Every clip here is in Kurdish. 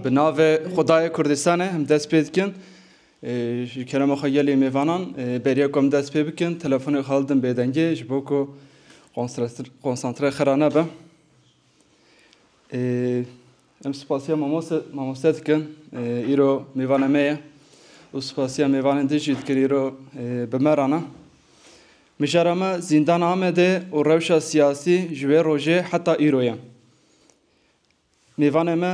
Bi navê Xwedayê Kurdistanê em dest pê dikin. Ji kerema xwe gelê mêvanan beriya ku em dest pê bikin telefonê xwe hildin bêdengê ji bo ku konsantre xira nebe. Em spasiya mamoste mamoste dikin îro mêvana me ye û spasiya mêvanên din jî dikin îro bi me rana. Mijara me zîndana Amedê û rewşa siyasî ji wê rojê heta îro ye. Mêvanê me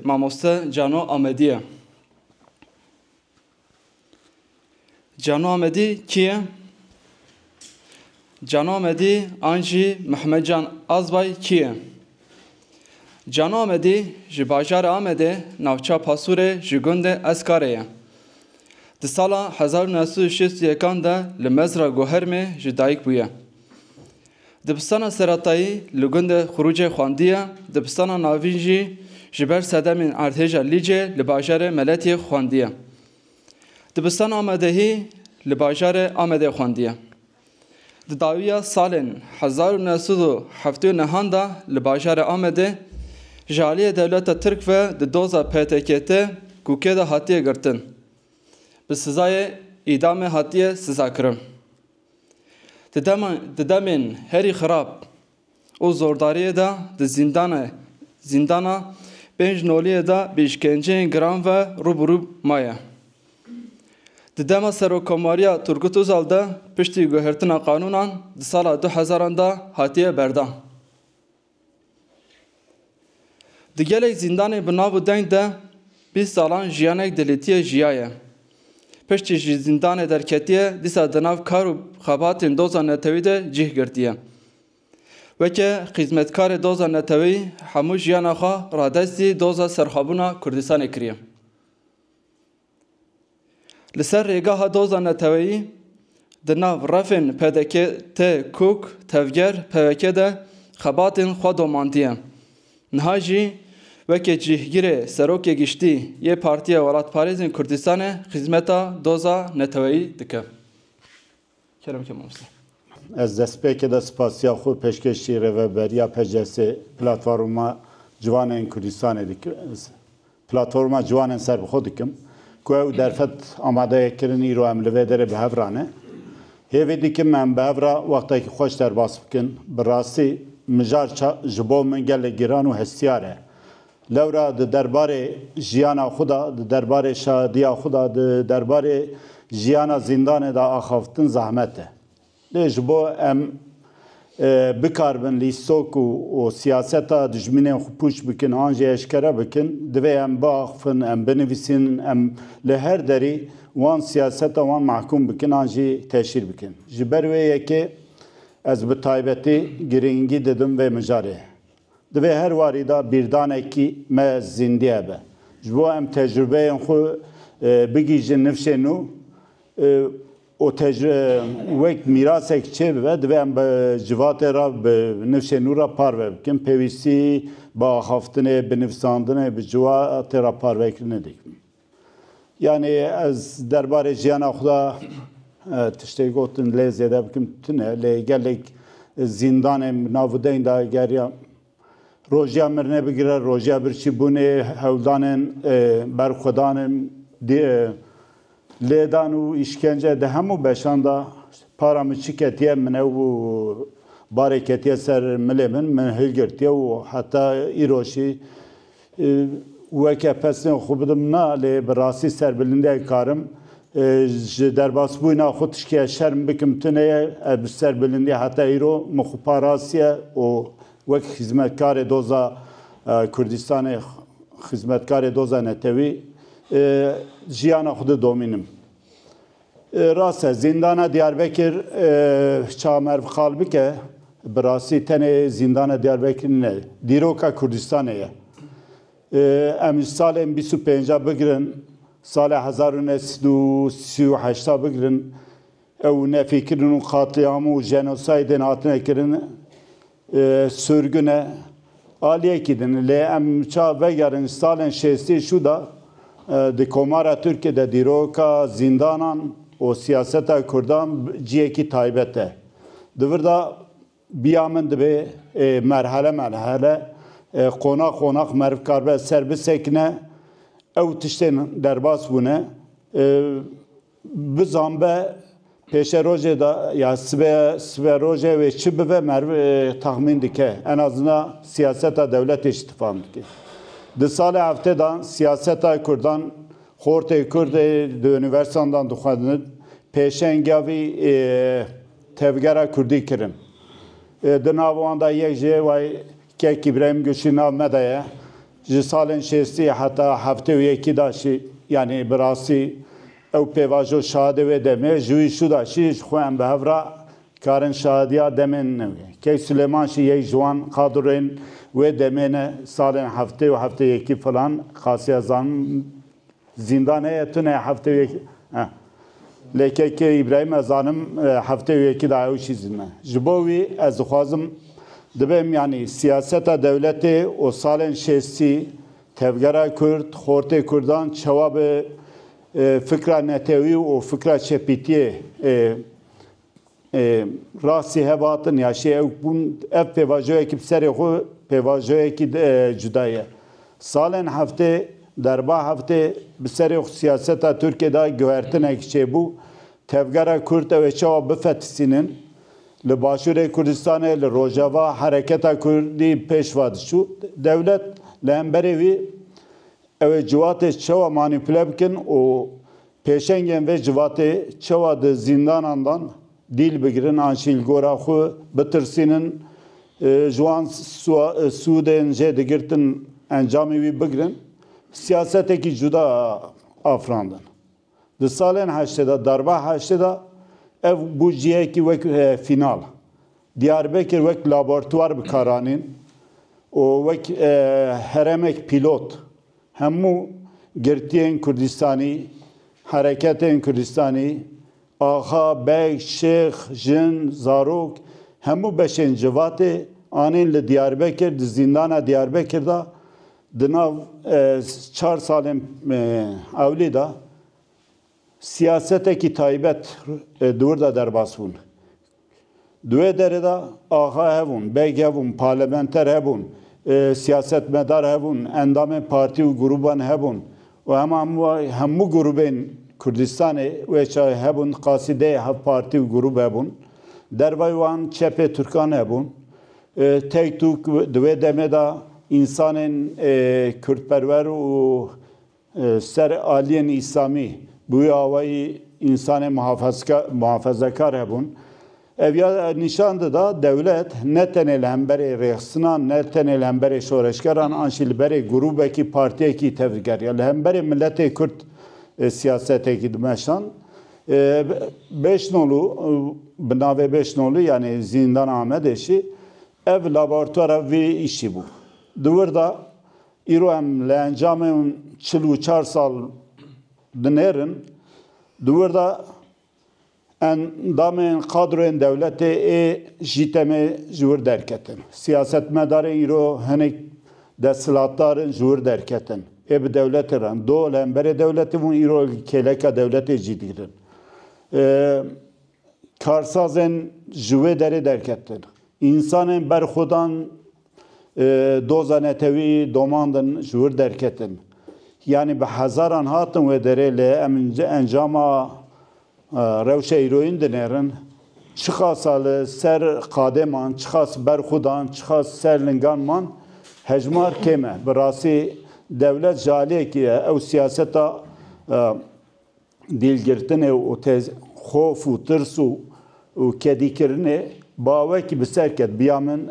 mamoste Cano Amedî ye. Cano Amedî kî ye? Cano Amedî an jî Mihemed Can Azbay kî ye? Cano Amedî ji bajarê Amedê navçeya Pasûrê ji gundê Eskarê ye. Di sala hezar û neh sed û şêst û yekan de li Mezra Gohermê ji dayik bûye. Dibistana seretayî li gundê Xurûcê xwendiye, dibistana navîn jî ji ber sedemên erdhêja Lîcê li bajarê Meletiyê xwendiye. Dibistana Amedehî li bajarê Amedê xwendiye. Di dawiya salên hezar û neh sed û heftê û nehan de li bajarê Amedê ji aliyê dewleta Tirk ve di doza PTKT kûkê de hatiye girtin, bi sizayê îdamê hatiye sizakirin. Di demên herî xirab û zordariyê de di zîndana pênc noliyê de bi îşkenceyên giran ve rûbirû maye. Di dema Serokkomariya Turgut Ozal de piştî guhertina qanûnan di sala du hezaran de hatiye berdan. Di gelek zîndanê bi nav û deng de bîst salan jiyanek di lîtiyê jiyaye. Piştî ji zîndanê derketiye dîsa di nav kar û xebatên doza netewî de cih girtiye. Weke xîzmetkarê doza netewî hemû jiyana xwe radestî doza serxwebûna Kurdistanê kiriye. Li ser rêgeha doza neteweyî di nav refên pdk, te, kûk, tevger, pwk de xebatên xwe domandiye. Niha jî weke cîhgirê Serokê Giştî yê Partiya Welatparêzên Kurdistanê xîzmeta doza neteweyî dike. Kerem ke mamoste. Ez destpêkê de spasiya xwe pêşkêşî Rêveberiya PCS'ê Platforma Ciwanên Kurdistanê dikim Platforma Ciwanên Serbixwe dikim ku ew derfet amade ye kirin îro em li vê derê bi hev re ne. Hêvî dikim em bi hev re wextekî xweş derbas bikin. Bi rastî mijar ji bo min gelek giran û hestiyar e. Lewra di derbarê jiyana xwe de, di derbarê şadiya xwe de, di derbarê jiyana zîndanê de axaftin zehmet e. Lê ji bo em bikaribin lîstok û siyaseta dijminên xwe pûç bikin an jî eşkere bikin, divê em biaxfin, em binivîsin, em li her derî wan siyaseta wan mehkûm bikin an jî teşhîr bikin. Ji ber wê yekê ez bi taybetî girîngî didim vê mijarê. Di vê her warî de bîrdanekî me zîndiye be. Ji bo em tecrûbeyên xwe bigihîjin nifşên nû û wek mîrasek çê bibe, divê em bi civatê re bi nifşên nû re parve bikin. Pêwîstî bi axaftinê, bi nivîsandinê, bi civatê re parvekirinê dikin. Yanî ez derbarê jiyana xwe de tiştê gotin lê zêde bikim tune lê gelek zîndanê nav û deng de geriya Rojiya mirinê bigire rojiya birçî bûnê hewldanên berxwedanên lêdan û îşkence di hemû beşan de para min çi ketiye min ew barê ketiye ser milê min min hilgirtiye û heta îrojî Weke pesnê xwe bidim na lê bi rastî ser bi lindeyê karim ji derbasbûyna xwe tiştîya şerm bikim tune ye. Ez bi ser bi lindî heta îro min xwe parastiye û wek xizmetkarê Doza Kurdistanê, xizmetkarê Doza Netewî jiyana xwe didomînim. Rast e zîndana Diyarbekir çamerv xal bike bi rastî tenê zîndana Diyarbekirî ne dîroka Kurdistanê ye. Em ji salên bîst û pênc bigirin salê hezar û neh sed û sî û heşt bigirin ew nefîkirin û qatlîam û jenosaydên hatine kirin Sirgin e, aliyekî din. Lê em ça vegerin salên şêstî şû de di Komara Tirkê de dîroka zîndanan û siyaseta Kurdan ciyekî taybet e. Di vir de biya min dibê merhele merhele, qonax qonax meriv karibe ser bisekine ew tiştên derbas bûne. Bi zanbe pêşerojê de ya sibe siberojê wê çi bibe merv taxmîn dike. En azina siyaseta dewletê jî tifam dike. Di salê heftê de siyaseta kurdan xortê kurd ê di unîversandan dixwendin pêşengiya vî tevgera kurdî kirin. Di nav wan de yek ji way Kek Îbrahîm Gulşîn nav me de ye. Ji salên şêstî heta heftê û yekî da jî yanî bi rastî ew pêvajo şahidê wê demê ji wî şû da jî ji xwe em bi hev ra karin şahidîya demên ne wê. Key Silêman jî yek ji wan qadrûrên wê demê ne salên heftê û heftê yekî filan xasiya zanîn. Zîndan heye tune heftê wê yekî eh. Lê KK Îbrahîm ez zanim heftê wê yekî da ew jî zîn e. Ji bo wî ez dixwazim dibêm yanî siyaseta dewletê û salên şêstî tevgera kurd, xortê kurdan çawa bi fikra netewî û fikra çepîtiyê rastî hevatin ya şê ewk bûn ev pêvajoyekî bi serê xwe pêvajoyekî cuda ye. Salên heftê derba heftê bi serê xwe siyaseta Tirkiyê de guhertinek çêbû tevgera Kurd ew ê çawa bifetisînin. Li Başûrê Kurdistanê li Rojava hereketa Kurdî pêşva diçû. Dewlet li hemberê wî ew ê ciwatê çawa manîpule bikin û Pêşengên vê civatê çewa di zîndanan dan dîl bigirin an jî li gora xwe bitirsînin, ji wan sûdên jê digirtin encamê wî bigirin, siyasetekî cuda afirandin. Di salên heştê de, darba heştê de ev bû cihekî wek fînal. Diyarbekir wek labortwar bi kar anîn û wek heremek pîlot Hemû girtiyên Kurdistanî, hereketên Kurdistanî, axa, beg, şêx, jin, zarok, hemû beşên civatê anîn li Diyarbekir, di zîndana Diyarbekir de di nav çar salên ewlî de. Siyasetekî taybet di wir de derbas bûn. Di wê derê de axa hebûn, beg hebûn, parlamenter hebûn, siyasetmedar hebûn, endamên partî û grûban hebûn û hema hemû grûbên Kurdistanê wê çayê hebûn, qasî deh hev partî û grûb hebûn. Dervayî wan çepê Tirkan hebûn. Tek tûk di wê demê de însanên Kurdperwer û Ser aliyên Îslamî bi wî awayî însanên muhafezekar hebûn. Ev ya nîşan dida dewlet ne tenê li hemberê rêxistinan, ne tenê li hemberê şoreşgeran an jî li berê grûbekî, partiyekî tevî digeriya. Li hemberê miletê Kurd siyasetekî dimeşand. Bêşnolû, bi navê Bêşnolû yanî Zîndana Amedê jî ev labortwara vî îşî bû. Di wir de Îro em li encamê çil û çar sal dinêrin. Di wir de endamên kadroyên dewletê ê jî tenê ji wir derketin. Siyasetmedarên îro hinek desthilatdar in ji wir derketin. Ê bi dewletê re in. Do li hemberê dewletê bûn îro kêleka dewletê cî digirin. Karsazên ji wê derê derketin. Însanên berxwedan Doza netewî domand in ji wir derketin. Yanî bi hezaran hatin wê derê lê em encama rewşa îroyîn dinêrin. Çiqasa li ser qadê man, çiqas ber xwe dan, çiqas ser lingan man hejmar kêm e. Bi rastî dewlet ji aliyekî ye. Ew siyaseta. Dîlgirtinê û tê xof û tirs û kedîkirinê ba wekî bi ser ket. Biya min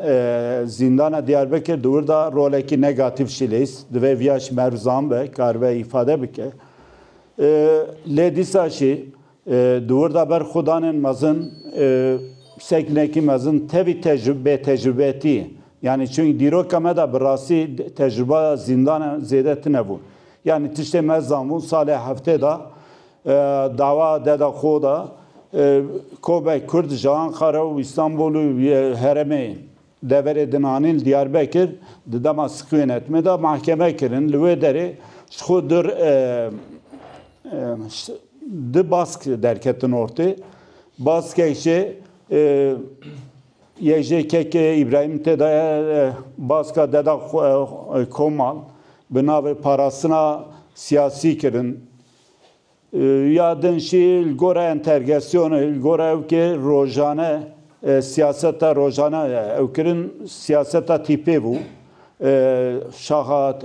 zîndana Diyarbekir di wir de rolekî negatîf jî lês. Divê viya ji me rizan be, karibe îfade bike. Lê dîsa jî di wir de ber xwe danên mezin sekinekî mezin tevî bêtecrubetiyê. Yanî çungî dîroka me de bi rastî tecruba zîndanan zêde tune bû. Yanî tiştê me zanbûn salê heftê de dawa deda xo de kobek kurd ji Anqara û Îstanbul û heremê deverê din anîn li Diyarbekir di dema Sikwên Etmê de mahkeme kirin. Li wê derê ji xo du bask derketin ortê. Baskek jî. Yek jê kekê Îbrahîm tê de baska deda Komal bi navê parastina siyasî kirin. Ya din jî li gora entergesyonê, li gora ew kê rojane siyaseta rojane ew kirin siyaseta tîpê bû. Şaxa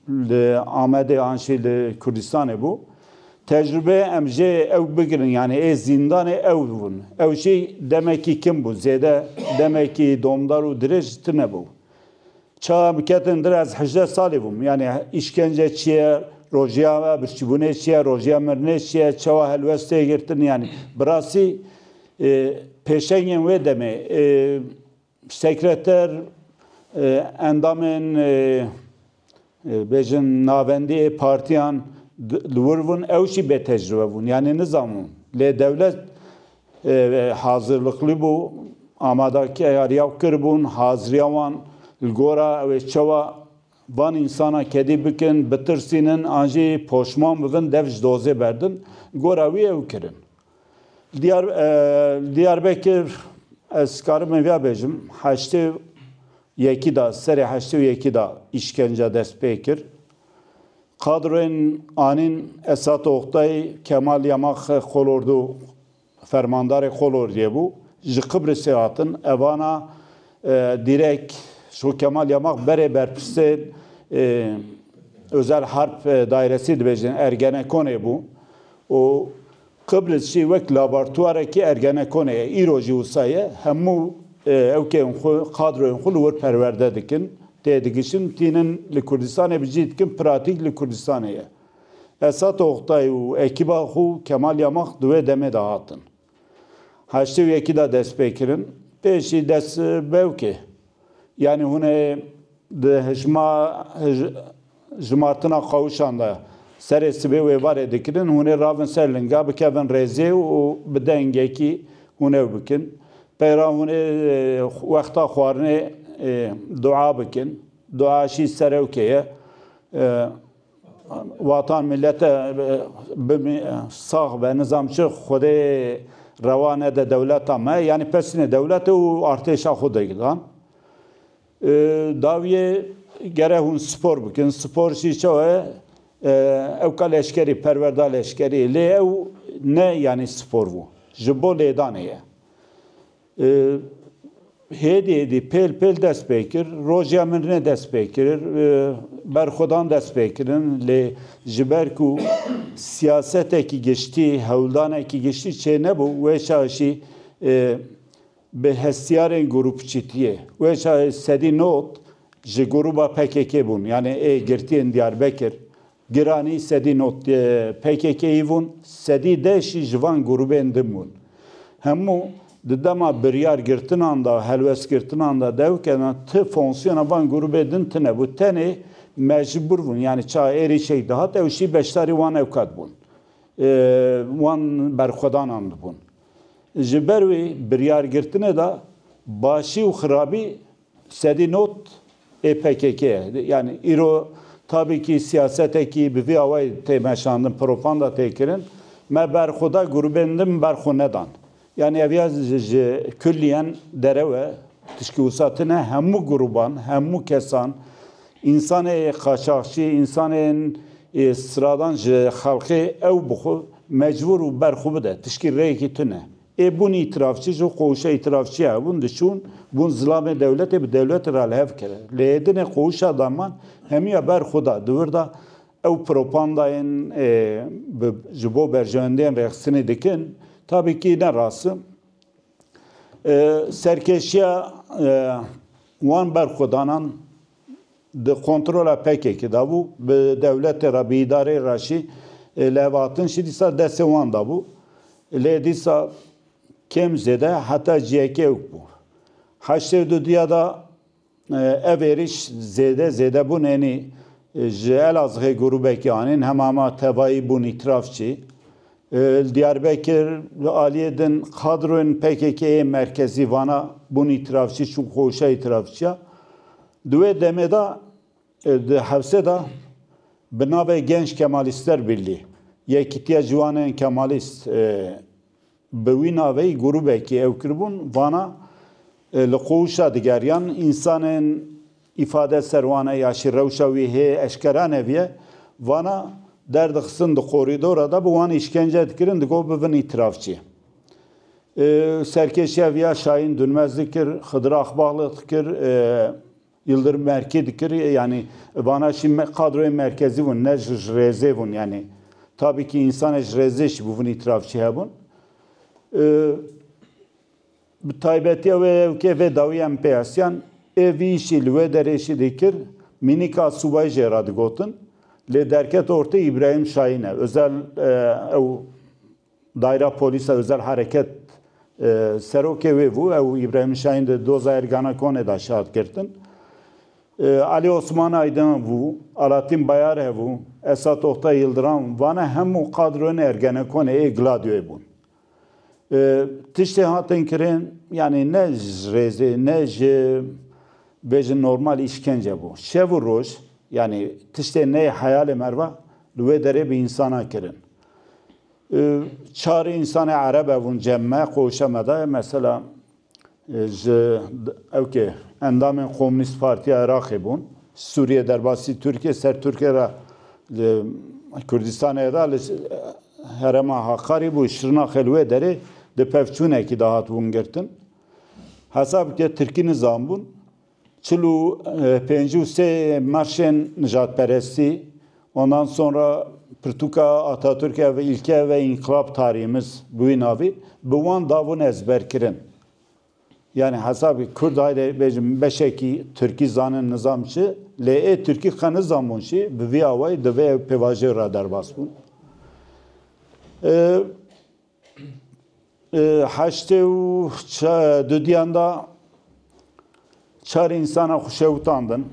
Li Amedê an jî li Kurdistanê bû. Tecrûbe em jê ew bigirin yanî ê zîndanê ew bûn. Ew jî demekî kim bû zêde demekî domdar û dirêj tine bû. Çawa em ketin dir ez hejdeh salî bûm. Yanî îşkence çi ye, rojiya birçîbûnê çi ye, rojiya mirinê çi ye, çawa helwest tê girtin yanî bi rastî pêşengên wê demê Sekreter endamên bêjin navendî ê partiyan li wir bûn, ew jî bêtecrûbe bûn yanî nizanbûn. Lê dewlet hazirliklî bû, amadekariya û kiribûn haziriya wan li gora ew ê çawa van însanan kedî bikin, bitirsînin an jî poşman bibin dev ji dozê berdin. Li gora wî ew kirin. Diyar, Diyarbekir ez karim hevya bêjim heştê yekî de serê heştê û yekî de îşkence dest pê kir. Kadroyên anîn Esat Oktay, Kemal Yamak Kolordu fermandarê Kolordiyê bû. Ji Qibrisê hatin. Evana direk şo Kemal Yamak berê berpirsên Özel Harp Dairesî dibêjin Ergenekonê bû. û Qibriz jî wek labartuarekî Ergenekonê ye, îro jî wisa ye, hemû ewkeyên xwe, kadroyên xwe li wir perwerde dikin, têdigişin, tînin li Kurdistanê bi cî dikin, pratîk li Kurdistanê ye. Esat Oktay û ekîba xwe Kemal Yamak di wê demê de hatin. Heştê û yekî de dest pê kirin. Pêşî dest bewkê. Yanî hûn ê di hijma jimartina qawişan de serê sibê wê varê dikirin, hûn ê ravin ser linga, bikevin rêzê û bi dengekî hûn ew bikin. Peyra hûn ê wexta xwarinê dua bikin. Duaşî serewkê ye. Watan milete bimî sax be nizam çi xwedê rewa nede dewleta me yanî pesîne dewlete û artêşa xwe dagilan. Dawiyê gere hûn spor bikin spor jî çawa ye ew ka leşkerî perwerda leşkerî lê ew ne yanî spor bû ji bo lêdanê ye. Hêdî dî pêl pêl dest pê kir. Roja min ne dest pê kir. Berxwedan dest pê kirin. Lê ji ber ku siyasetekî giştî, hewldanekî giştî çê nebû, wê şahê jî bi hestiyarên grûpçîtiyê, wê şahê sedî not ji grûba PKK'ê bûn. Yanî ê girtiyên Diyarbekir, Giranî sedî not PKK'yî vûn, sedî deh jî ji van grûbên din bûn. Hemû di dema biryar girtinan de, helwestgirtinan de dew kena ti fonksiyona van grûbê din tine bû. Tenê me ji bûr bûn, yanî ça êrîşek dihat ew jî beşdarî wan ewqat bûn. Wan berxwedanan dibûn. Ji ber wî biryargirtinê de başî û xirabî Sedî not ê pkk ye. Yanî îro tabîkî siyasetekî bi vî awayî tê meşandin, propanda tê kirin. Me berxweda grûbên din ber xwe nedan. Yanî ev ya ji kullîyen derew e. Tişkî wisa tune hemû grûban, hemû kesan, însanê qaçaxçî, însanên stradan ji xelkê ew bi xwe mecbûr û ber xwe bide. Tişkî rêyekî tune. Ê bûn îtirafçî ji qowşa îtirafçîya hebûn diçûn, bûn zilamê dewletê bi dewletê re li hev kere. Lê ê dinê qowşa daman hemîya ber xwe da. Di wir de ew propandayên bi ji bo berjewendiyên rêxistinê dikin tabîkî ne rast in. Serkêşiya wan berxwedanan. di kontrola PKK'ê de bû, bi dewletê re, bi îdareyê re jî lêvatin jî dîsa destê wan de bû. Lê dîsa kêm zêde heta ji yekê ewk bû. Heştê û du diya de ev êrîş zêde zêde bûn ênî ji Elazixê grûbekî anîn hemama tevayî bûn îtiraf jî. Li Diyarbekir li aliyê din kadroyên PKK'ê yê merkezî vana bûn îtirafçî çûn xweşa îtirafçiya. Di wê demê de di hewsê de bi navê Genç Kemalîster Birlî, Yekîtiya Ciwanên Kemalîst bi wî navê grûbekî ew kiribûn, vana li qûwişa digeriyan însanên îfade ser wan e ya jî rewşa wî hê eşkera nebiye, vana derdixistin di korîdora de bi wan îşkence dikirin digo bibin îtirafçî. Serkêşiya vî ya Şahin Dunmez dikir, Xidri Axbagli dikir, Yildirim Merkî dikir yanî vana jî qadroyên merkezî bûn ne ji ji rêzê bûn yanî tabî kî însanê ji rêzê jî bi vin îtiraf jî hebûn. Bi taybetiya wê hevokê vê dawî em pê hesiyan ê vî îşî li wê derê jî dikir mînika subayî jê re digotin lê derket ortê Îbrahîm Şahin e. Ozel ew Daîra Polîsa Ozel Hereket serokê wê bû, ew Îbrahîm Şahîn di doza Ergenekonê de şahid girtin. Alî Osman Aydin bû, Alatîn Bayar hebû, Esat Oktay Yildiram vane hemû qadroyên Ergenekonê ê Gladyoyê bûn. Tiştê hatin kirin yanî ne ji rêzê ne ji bêjin normal îşkence bû. Şev û roj yanî tiştê neyê heyalê merva li wê derê bi însanan kirin. Çar însanê ereb evûn cem me, qoşe me da. Mesela ji ewkê endamên Komünîst Partiya Iraqê bûn. Sûriye derbasî Tirkiye ser Tirkiye re li Kurdistanê re li herema Hakarî bû Şirnaxê li wê derê di pevçûnekî de hat wingirtin. Hesab bike Tirkî nizanbûn. Çil û pêncî û sê marşên nijadperestî, ondan sonra pirtûka Atatürk ev ilke ve inkılap tarihimiz bi wî navî, bi wan dabûn ezberkirin. Yanî hesabê Kurd haydê bêjin beşekî Tirkî zanin nizam çi, lê ê Tirkî qe nizanbûn jî bi vî awayî divê ew pêvajoyê re derbas bûn. Heştê û dudiyan de çar însanan xwe şewitandin.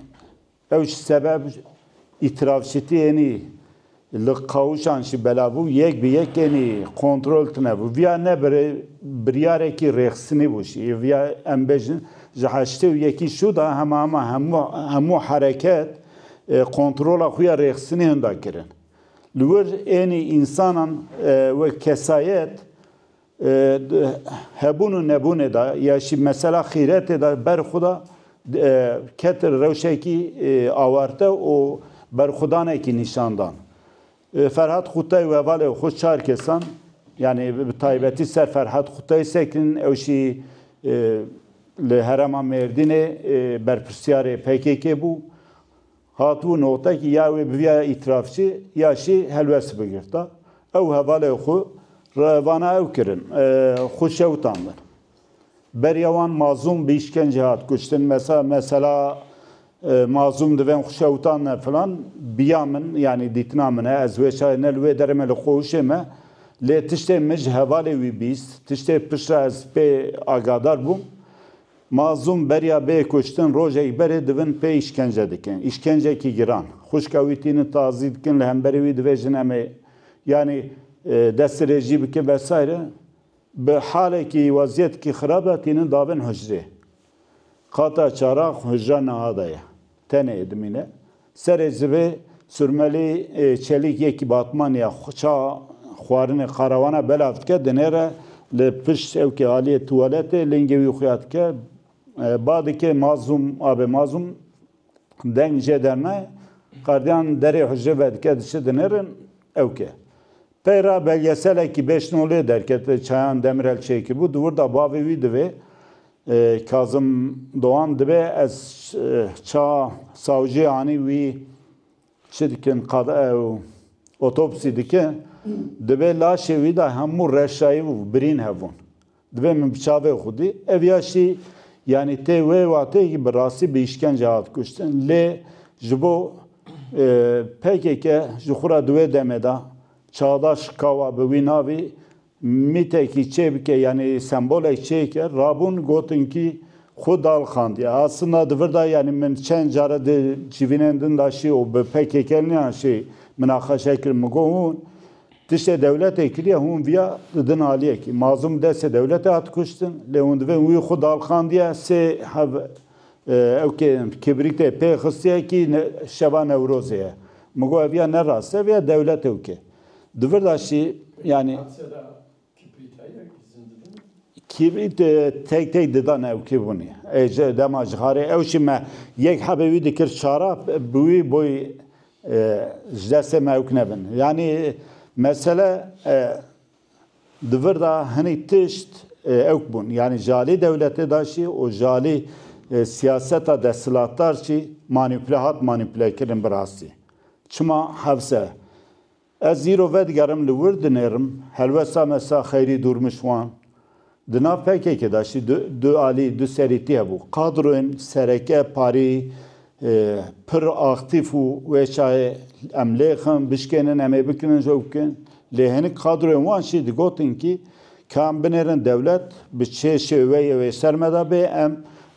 Ew ji sebeb îtirafşitiyênî li qawişan jî belav bû, yek bi yekênî kontrol tine bû. Viya ne biryarekî rêxistinî bû jî. Viya em bêjin ji heştê û yekî şû de hema hema hemû hereket kontrola xwe ya rêxistinî hinda kirin. Li wir ênî însanan wek kesayet di hebûn û nebûnê de ya jî mesela xîretê de berxweda ketin rewşekî awarte û berxwedanekî nîşan dan. Ferhat Xûtay û hevalên xwe çar kesan yanî bi taybetî ser Ferhat Xûtayê sekinîn ew jî li herêma Mêrdînê berpirsyarê pkk bû. Hatibû noqtekî ya wê bi vîyaya îtirafçî ya şî helwest bigirta. Ew hevalê xwe re vana ew kirin xwe şewitandin. Beriya wan Mazûm bi îşkencê hat kuştin. Mesa mesela Mazûm divên xwe şewitandine filan bi ya min yanî dîtina min e. Ez wê çayê ne li wê derê me li qohûşê me. Lê tiştê min ji hevalê wî bîst. Tiştê piştre ez pê agadar bûm. Mazlûm beriya bê kuştin rojek berê divin pê îşkence dikin. Îşkencekî giran. Xwişka wî tînin tazî dikin li hemberî wî dibêjin em ê yanî destirêjî bikin vesayre. Bi halekî wezîyetekî xirab de tînin dabin hicrê. Qata çaran hicra niha de ye. Tenê dimîne. Serê zivê Surmelî çelîk yekî Batmaniya ça xwarinê Qarawana belav dike, dinêre li pişt sewkê aliyê tuwaletê lingê wî xuya dike. Ba dike Mazûm abe Mazûm. Deng jê dernaye. Qardiyan derê hucrê vedike diçe dinêrin ewke. Pey re belgeselekî bêşnolê derket li Çayan Demirel çêkiribû di wirda bavê wî divê Kazim Doan dibê ez ça sawciyê anî wî çi dikin qad ew otopsî dikin dibê laşê wî de hemû reşayî û birîn hebûn. Divê min bi çavê xwedî ev ya şî yanî tê wê watê ki bi rastî bi îşkence hat kuştin. Lê ji bo pkk ji xwe re di wê demê de çavdaş kawa bi wî navî mîtekî çê bike yanî sembolek çê ke rabûn gotin ki xwe dalxandiye. Aslında di vir de yanî min çend care di civînên din de şî û bi pkk niyan şî minaqeşe kirin min got hûn Tiştê dewletê kiriye hûn viya di din aliyekî. Mazlûm bi destê dewletê hat kuştin lê hûn divên wî xwe dalxandiye sê hev ewkê kibrîtê pê xistiye kî şeva Newrozê ye. Min got ev ya ne rast e ev ya dewlet ewkê. Di vir de jî yanî Kîbrit tek tek dida newkê vûnê. Ê ji dema ji xarê ewşî me yek hebê wî dikir çara bi wî boy ji destê me ewk nebin. Yanî mesele di vir de hinî tişt ewk bûn. Yanî ji alî dewletê de jî û ji alî siyaseta desthilatdar jî manîpule hat manîpulekirin bi rastî. Çima hevse Ez îro vedigerim li wir dinêrim helwesta me Sa Xeyrî Dûrmişwan. Di nav pkk de jî du du alî, du serîtî hebû. Kadroyên sereke parî pir aktîf û wê çayê em lê xin, bişkênin em ê bikinin ji ew bikin. Lê hinik kadroyên wan jî digotin kî ka em binêrin dewlet bi çê şêweyê wê ser me de bê em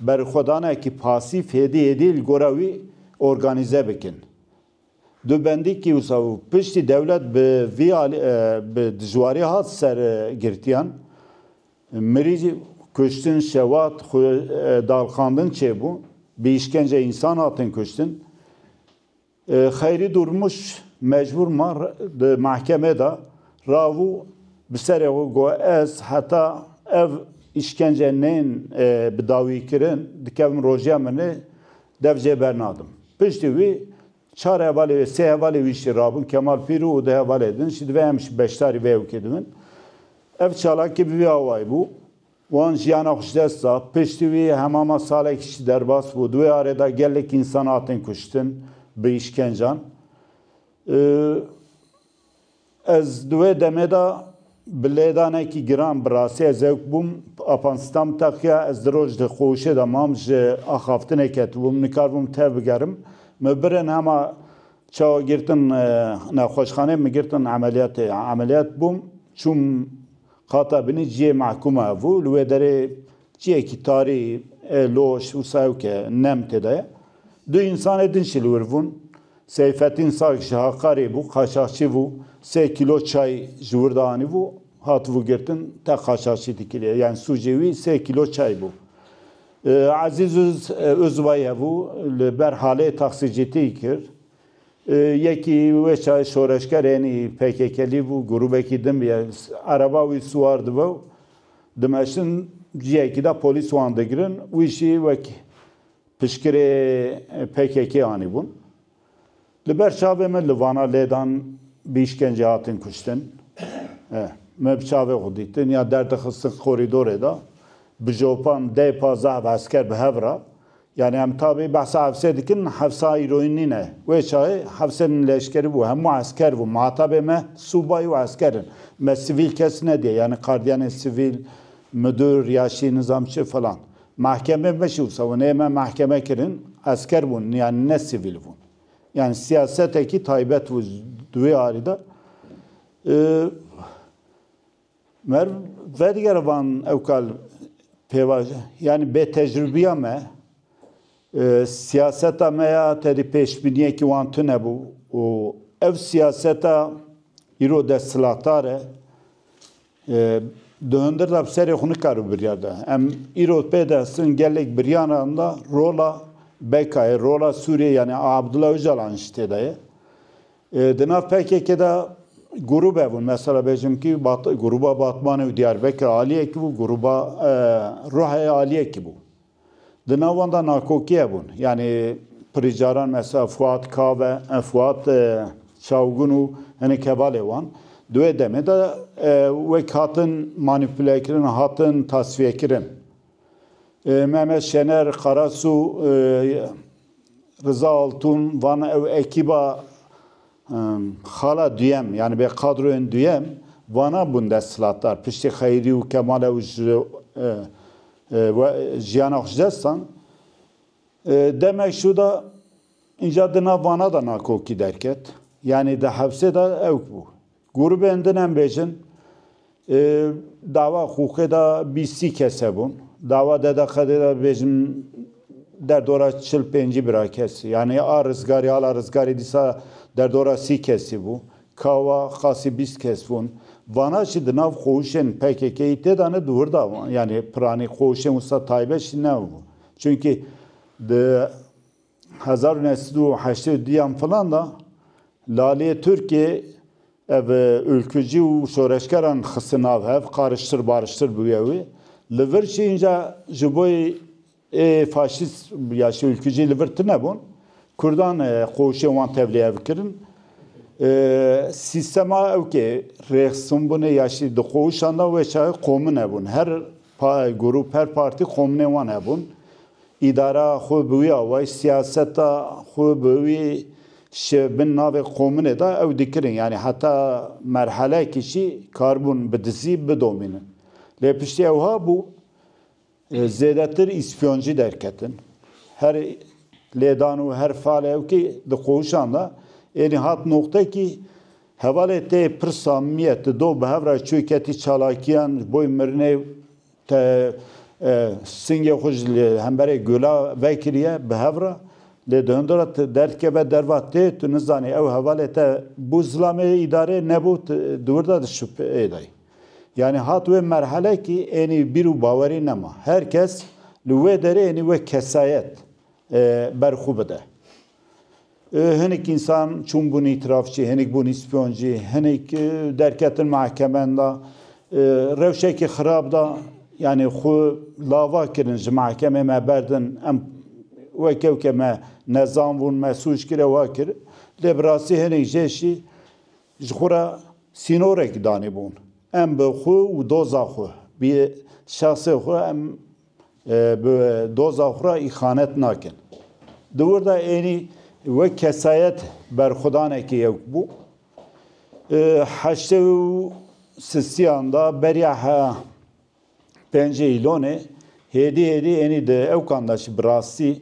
berixwedanekî pasîf hêdî hêdî li gora wî organîze bikin. Du bendî kîwsa û piştî dewlet bi vî alî bi dijwarî hat ser girtiyan. Mirî kuştin, şewat, dalxandin çêbû, bi îşkence însan hatin kuştin. Xeyrî Dûrmuş mecbûr ma di mehkemê de rabû bi serê xwe got ez heta ev îşkence neyên bi dawîkirin dikevim rojiya min ê Dev jê bernadim. Piştî wî çar hevalê wê, sê hevalê wî jî rabûn Kemal Pîrû û du hevalê din jî divê em jî beşdarî vê ewkê dibin. Ev çalakî bi vî awayî bû. Wan jiyana xwe ji dest da. Piştî wî hemama salekî jî derbas bû. Di wê arê de gelek însan hatin kuştin bi îşkencan. Ez di wê demê de bi lêdanekî giran bi rastiyê zewk bûm. Apan Stam teqiya ez di roj di qoşê de mam ji axaftinê ketibûm. Nikaribûm tev bigerim. Min birin hema çawa girtin nexweşxanê min girtin emeliyatê. Emeliyat bûm çûm qata binî ciyê mehkûma hebû. Li wê derê ciyekî tarî ê loş wisa ew ke nem tê de ye. Du însanê din şilwir bûn. Seyfettîn Sag ji Haqarê bû, qaçaxçî bû, sê kîlo çay ji wir de anîbû, hatibû girtin, te qaçaxçî dikiriye. Yani sûcê wî sê kîlo çay bû. Ezîz Uzbay hebû, li ber halê taksicîtî kir. Yekî wê çayê şoreşger yenî PKKlî bû, grûbekî din bûye. Ereba wî siwar dibe û dimeşin ciyekî de polîs wan digirin. Wî jî wek Piştgirê pkk anîbûn. Li ber çavê me li Vana lêdan bi îşkencê hatin kuştin. Me bi çavê xwe dîtin ya derdixistin korîdorê de. Bi jopan deh pazdeh esker bi hev re. Yanî em tabî behsa hevsê dikin, hevsa îroyîn nîne. Wê çayê hevsê min leşkerî bû. Hemû esker bûn. Mihatabê me sûbayî û esker in. Me sivîl kes nediye. Yanî qardiyanên sivîl, midir ya şî nizam çi filan. Mahkeme biş û sewunê me mahkeme kirin esker bûn yan ne sivîl bûn. Yan siyasetekî taybet bû di wê arî de. Mer vedigere van ew kal pêvajo yani bêtecrûbiya me siyaseta me ya tedî pêşbîniyekî wan tune bû û ev siyaseta îro desthilatdar e Di hundir de bi serê xwe nikaribû biryar da. Em îro pê dihestin gelek biryaran de rola BK'yê, rola Sûriyeyê yanî Abdullah Ocalan'ê jî tê de ye. Di nav PKK'ê de grûbe bûn. Mesela bêjim kî grûba Batmanê û Diyarbekirê aliyekî bû, grûba Ruheyê aliyekî bû. Di nav wan de nakokiye bûn. Yanî pirî caran mesela Fuat Kave, Fuat Çawgun û hinek hevalê wan di wê demê de wek hatin manîpulekirin, hatin tasfiyekirin. Mehmet Şener, Karasu, Riza Altun van ew ekîba xala duyem yanî bê kadroyên duyem vanan bûn desthilatdar. Piştî Xeyrî û Kemal ew ji We jiyana xwe ji dest dan. Demek şû da înca di nav vana da nakokî derket. Yanî di hepsê da ewk bû. Grûbên din em bêjin dawa Xûxê da bîst sî kes hebûn. Dawa Dede Xedê da bêjin derdora çil pêncî bira kes. Yanî a rizgarî hala rizgarî dîsa derdora sî kesî bû. Kawa qasî bîst kes bûn. Vana jî di nav xwewşên PKK'yî tê de ne di wir de yanî piranî xwewşên wisa taybet jî nebû. Çimkî di hezar û neh sed û heştê û du yan filan de laliyê Tirkiyê ev ûlkujî û şoreşgeran xiste nav hev qariştir bariştir bûye wê. Li vir jî înca ji bo Ê faşîst ya Şewîlkî jî li vir tune bûn. Kurdan qoşên wan tevlî ev kirin. Sîstema ewkê rêxistin bûne ya jî di qoşan de wê çaye qomin hebûn. Her grûp, her partî qominên wan hebûn. Îdara xwe bi wî awayî, siyaseta xwe bi wî ji bin navê qominê de ew dikirin. Yanî heta merheleyekê jî karibûn bi dizî bidomînin. Lê piştî ew habû Zêdetir îspyoncî derketin. Her lêdan û her falewkî di qohûşan de êrî hat noqtekî hevalê tê pirsa mîye ti do bi hev re çû ketî çalakîyan ji bo mirinê te singê xwe ji hemberê gula vekiriye bi hev re lê di hundir re ti derdikeve derva tê tu nizanî ew hevalê te bû zilamê îdarê nebû tu di wir de di şupeyê de yî. Yanî hat wê merhelekî ênî bîr û bawerî nema. Her kes li wê derê ênî wek kesayet ber xwe bide. Hinik însan çûn bûnî trafîkê, hinik bûnî spyoncî, hinik derketin mehkemen de rewşekî xirab de yanî xwe lava kirin ji mehkemê me berdin em weke weke me nezan bûn, me sûc kir ewa kir. Lê bi rastî hinik jê jî Ji xwe re sînorek danîbûn. Em bi xwe û doza xwe, bi şexsê xwe em bi doza xwe re îxanet nakin. Di wir de ênî wek kesayet berxwedanekî yewk bû. Di heştê û sistiyan de beriya pêncê îlonê hêdî hêdî ênî di ewkan de jî bi rastî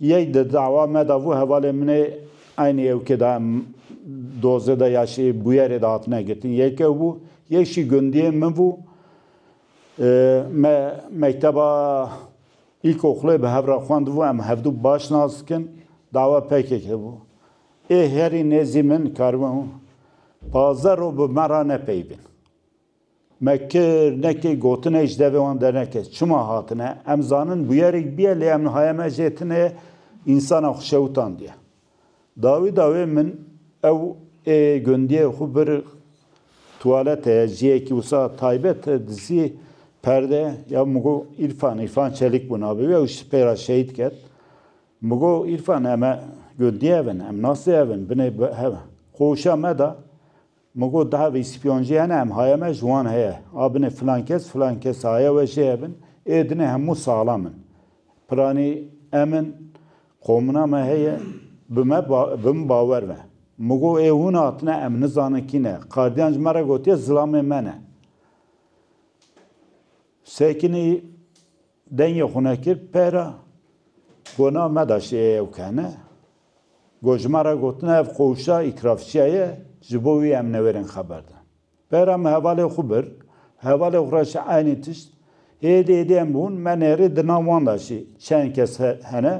Yek di dawa me de vû hevalên min ê eynî ewkê de em dozê de ya şî bûyerê de hatine girtin. Yek ew bû, yek jî gundiyên min bû. Me mekteba îlkoxulê bi hev re xwendibû, em hevdu baş nas dikin. Dawa pkk hebû. Ê herî nêzî min karibûn pazdeh roj bi me re ne peybin. Me kir, nekir, gotine ji devê wan dernekir. Çima hatine? Em zanin bûyerek bûye lê em nihaye me jê tune însanan xwe şewtandiye. Dawî dawê min ew ê gundiyê xwe bir tuwalet heye, ciyekî wisa taybet e dizî perde ya min got Îrfan, Îrfan Çelik bû navê wî ew ji pê re şehîd ket. Min got Îrfan em e gundiyê ev in, em nasê ev in, binê bi hev in. Xwe wişa me da. Min got, daha vê spîyan jî hene, em haya me ji wan heye. A binê filan kes, filan kes haya we jê hebin. Ê dinê hemû sala min. Piranî em in, qomina me heye, bi me bi min bawer be. Min got, ê hûn hatine, em nizanin kî ne. Qardiyan ji me re gotiye zilamê me ne. Sekinî dengê xwe nekir pera got, na me da şêye ew kene. Ku ji me re gotina ev koşta îtirafçiya ye, ji bo wî em newêrên xeber dan. Bera min hevalê xwe bir, hevalê xwe re jî eynî tişt. Hêdî hêdî em bûn, me nêrî di nav wan de jî çend kes hene.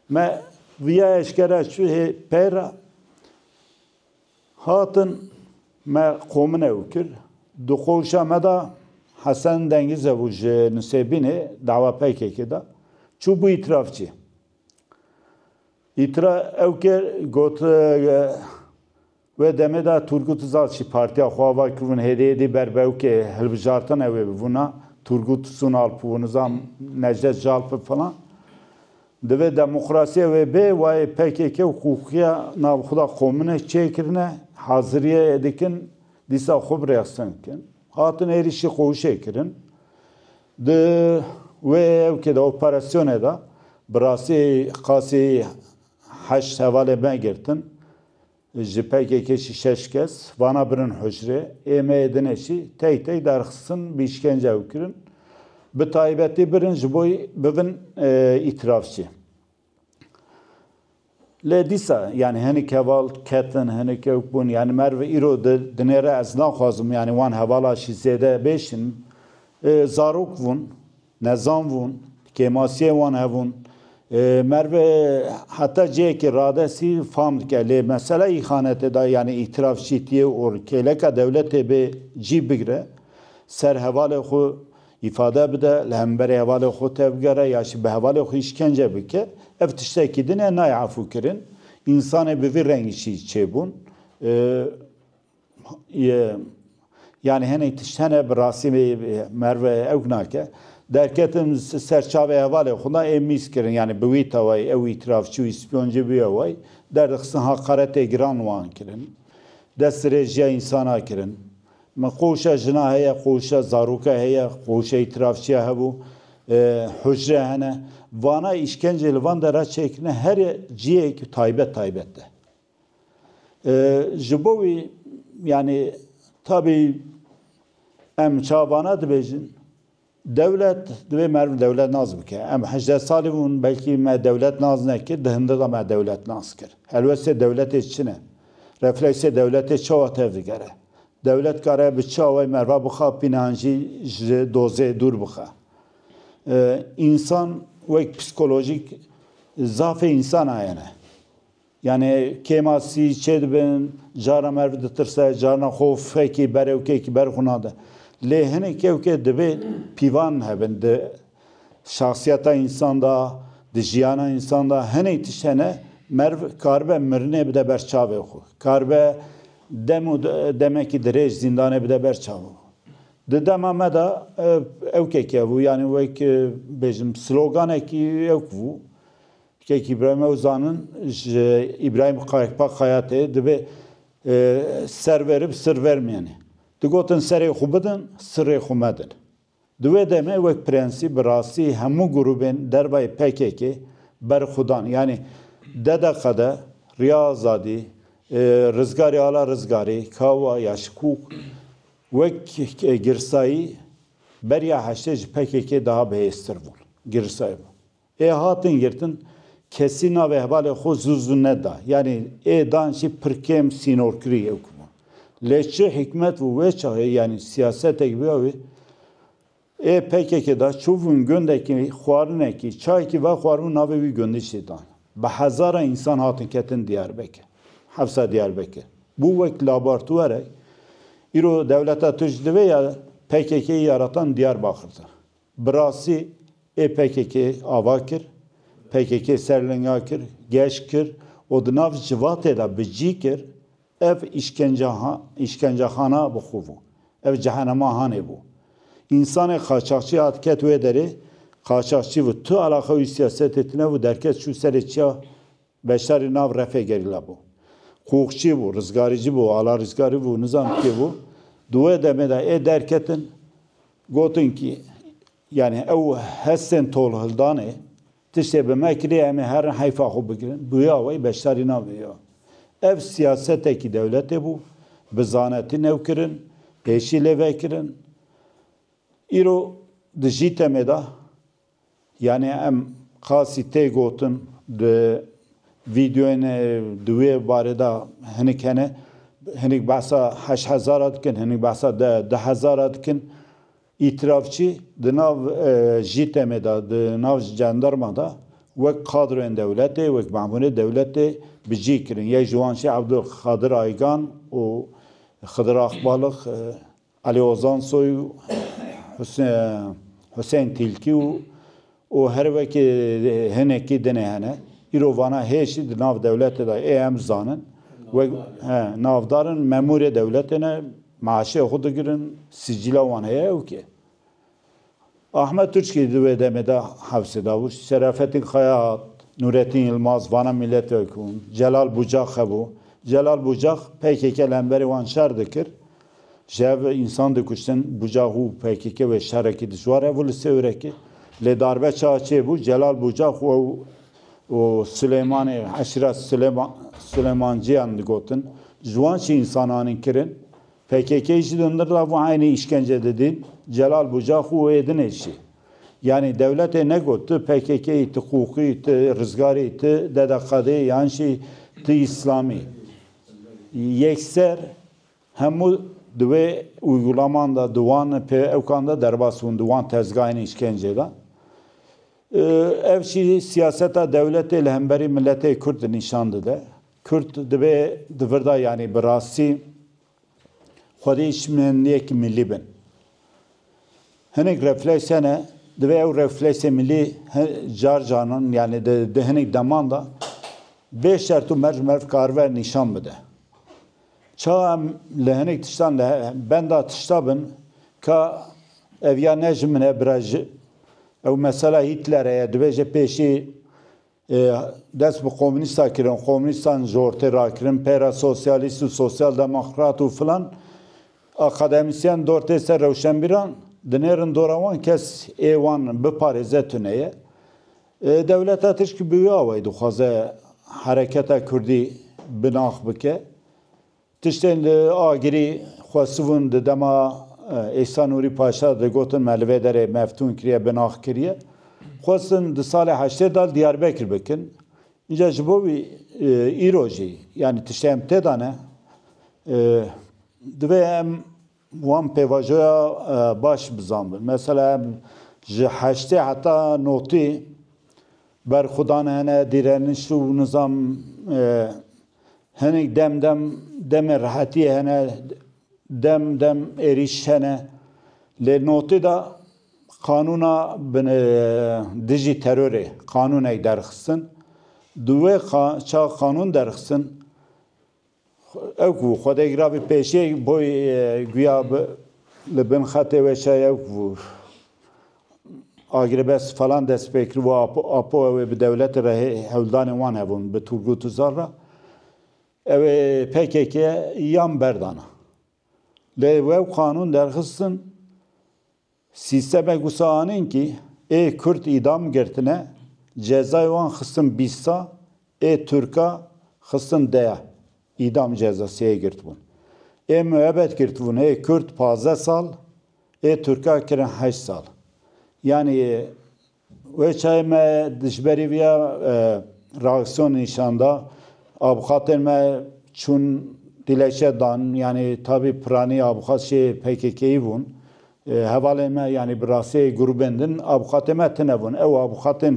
Me viya eşkere çû hê pey re. Hatin me qomin ew kir. Di koşa me de Hesen Dengize bû ji Nusêbînê, dawa PKK'ê de. Çûbû îtirafçî. Îtira Ewker got, Wê demê de Turgut Uzal jî partiya xwe ava ki hûn HDY'dê ber bi ewkê hilbijartina wê bibûna, Turgut Sunalp û nizam Necdet Jalp û filan. Divê demokrasiya wê bê, wayê pkk û xuxiya nav xwe de komune çê kirine, haziriyê dikin dîsa xwe bi rexsin bikin. Hatin êrîşî xwe hişê kirin. Di wê hevkê de, operasyonê de bi rastî qasî heşt hevalên me girtin. Ji PKK'ê jî şeş kes vana birin hûcrê. Ê me yê dinê jî teyk teyk derxistin bi îşkence ew kirin. Bi taybetî birin ji bo bibin îtirafçî. Lê dîsa yanî hinek heval ketin, hinek ewk bûn. Yanî merv îro di dinê re ez naxwazim yanî wan hevala şî zêde bêşinim. Zarok vûn, nezan vûn, kêmasiyê wan hebûn. Merv heta cihekî radestî fam dike. Lê mesela îxanetê de yanî îtîraf şîtiyê û kêleka dewletê bê cî bigire ser hevalê xwe Îfade bide, li hemberî hevalê xwe tevgere ya jî bi hevalê xwe îşkence bike, ev tiştekî din e nayê efûkirin. Însanê bi vî rengî jî çêbûn ye. Yanî hinek tişt hene bi rastî merv ewk nake. Derketim ser çavê hevalê xwe da ê mîz kirin yanî bi wî tawayî ew îtîraf çi wî spyoncî bûye way derdixistin haqaretê giran wan kirin. Dest dirêj ya însanan kirin. Me qoşa jina heye, qoşa zaroka heye, qoşa îtirafçiya hebû, hucre hene. Vana îşkencê li van dera çêkirine her cihêk taybet taybet de. Ji bo wî yanî tabî em çavana dibêjin Dewlet divê meriv dewletnas bike. Em hejdeh salî bûn belkî me dewletnas nekir, di hindir de me dewletnas kir. Helwestê dewletê çi ne? Refleksê dewletê çawa tev digere? Dewlet dikare bi çi awayî meriva bixa pînan jî ji dozê dûr bixe? Însan wek psîkolojîk zafê însan a yene. Yanî kêma sî çê dibin, caran merv ditirse, carna xwe fekî berewkekî ber xwe nade. Lê hinek kevke divê pîvan hebin di şexsiyeta însan de, di jiyana însan de. Hinek tişt hene merv karibe mirinê bide ber çavê xwe. Karibe dem û demekî dirêj zîndanê bide ber çavê xwe. Di dema me de ewkekî hebû, yanî wek bêjim sloganekî ewk bû. Tikekî birayma ew zanin ji Îbrahîm Qayikpa Xayatê divê ser verib sir vermîyenê. Digotin serê xwe bidin, sirê xwe medin. Di wê demê wek prensîp bi rastî hemû grûbên dervayê pkk berxwedan yanî DDQD, Riya Azadî, Rizgarî Ala Rizgarî, KAWA ya Şikûk wek girsayî beriya heştê ji pkk daha bihêztir bûn. Girsayî bû. Ê hatin girtin, kesî navê hevalê xwe zû zû neda. Yanî ê dan jî pir kêm sînorkirî ew ki bûn. Lê çi hîkmet û wê çaxê yanî siyasetek bîya wê, ê pkk da çûbûn gundekî xwarinekî, çayekî vexwaribûn navê wî gundî jî dan. Bi hezaran însan hatin ketin Diyarbekir, hefsa Diyarbekir. Bû wek labartwerek. Îro dewleta Tirk ji divê ya pkk-yê ya re tan Diyarbakir de. Bi rastî ê pkk ava kir, pkk ser linga kir, geş kir û di nav civatê de bi cî kir, ev îşkencaxana bi xwe bû, ev cehenema hanê bû. Însanê qaçaxçî hat ket wê derê, qaçaxçî bû, tu eleqa wî siyasetê tune bû, derket çû serê çiya Beşdarî nav Refê Gerîla bû. Qûxçî bû, rizgarîcî bû, ala rizgarî bû, nizam kê bû. Di wê demê de ê derketin, gotin kî yanî ew hestên tolhildanê tiştê bi me kiriye em ê herin heyfa xwe bigirin. Bûya wê beşdarî nav wê yo. Ev siyasetekî dewletê bû, bi zanetî new kirin, pêşî lê vekirin. Îro di jî temê de Yanî em qasî tê gotin di vîdeoyên di wê barê de hinik hene. Hinik behsa heşt hezar a dikin, hinik behsa du hezar a dikin. Îtîrafçî di nav JITEM'ê de, di nav jandarma de wek kadroyên dewletê, wek memûrê dewletê bi cih kirin. Yek ji wan jî Abdulkadir Aygan û Xidir Akbalix Ali Ozan Soy û Husên Tîlkî û û her wekî hinekî dinê hene. Îro vana hêz jî di nav dewletê de ê em zanin wek navdar in, memûrê dewletê ne, meaşê xwe digirin, sicîla wan heye ew kê? Ahmet Tuçkî di wê demê de Hewsê Davuş, Şerafettin Xayat, Nûrettin Yilmaz vana mîletwekûn, Celal Bucax hebû. Celal Bucax pkk li hemberî wan şer dikir. Ji hev ve însan dikuştin. Bucax û pkk wê şerekî dijwar hebû li Sêwrekê. Lê darbe çawa çêbû, Celal Bucax û ew û Silêmanê eşîret Silêmanciyan digotin. Ji wan çi însan anîn kirin? Pkk jî li hundir lav û eynî îşkence didîn, Celal Buca xwe wê dinêşî. Yanî dewletê negot tu pkk î, tu QUQI î, tu Rizgar î, tu Dede Qadê î an jî tu Îslamî î. Yekser hemû di wê uygulaman de, di wan pêewkan de derbas bûn, di wan tezgahên îşkencê de. Ev jî siyaseta dewletê li hemberî miletê Kurd nîşan dide. Kurd divê di vir de yanî bi rastî xwedî şimeniyek milî bin. Hinek refleks hene, divê ew refleksê milî car caran yanî di hinek deman de bê şert û merc merv karibe nîşan bide. Çawa em li hinek tiştan li benda tişta bin ka ev ya ne ji min e bira ji ew mesela Hîtlerê ye, dibêje pêşî Dest bi komûnîsta kirin, komûnîstan jortê rakirin, peyra sosyalîst û sosyaldemokrat û filan. Akademîsyen dortê ser rewşenbîran dinêrin dora wan kes ê wan biparêze tune ye. Dewleta tişkî bi wî awayî dixwaze hereketa kurdî binax bike. Tiştên li Agirî xwesibûn di dema Îsa Nûrî Paşa de gotin me li vê derê Meftûn kiriye bin ax kiriye. Xwestin di salê heştê de li Diyarbekir bikin. Înca ji bo wî îro jî yanî tiştê em têda ne. Divê em Wan pêvajoya baş bizanbin. Mesela ji heştê heta notî berxwedan hene, dîreniş û nizam hinek dem dem demên rehetiyê hene, dem dem êrîş hene. Lê notî de qanûna dijî terorê qanûnek derxistin. Di wê ça qanûn derxistin. Ew ku xwedegira bi pêşê boy guya li bin xetê weşa ew ku agirêbest falan dest pê kir û apo ew ê bi dewletê re hewldanên wan hebûn bi Turgut Uzal re ew ê pkk yan berdana. Lê wew qanûn derxistin. Sîstemek wisa anîn kî ê kurd îdam girtine, cezayê wan xistin bîst sa, ê turka xistin deya, îdam cezasiyê girtibûn. Ê muebet girtibûn, ê kurd pazdeh sal, ê turka kirin heşt sal. Yanî Wê çayê me dijberî viya reaksiyonê nîşan da. Avuxatên me çûn dilekçe dan yanî tabî piranî avuxat jê PKK'yî bûn. Hevalên me yanî bi rastiyê grûbên din avuxatê me tine bûn. Ew avuxatên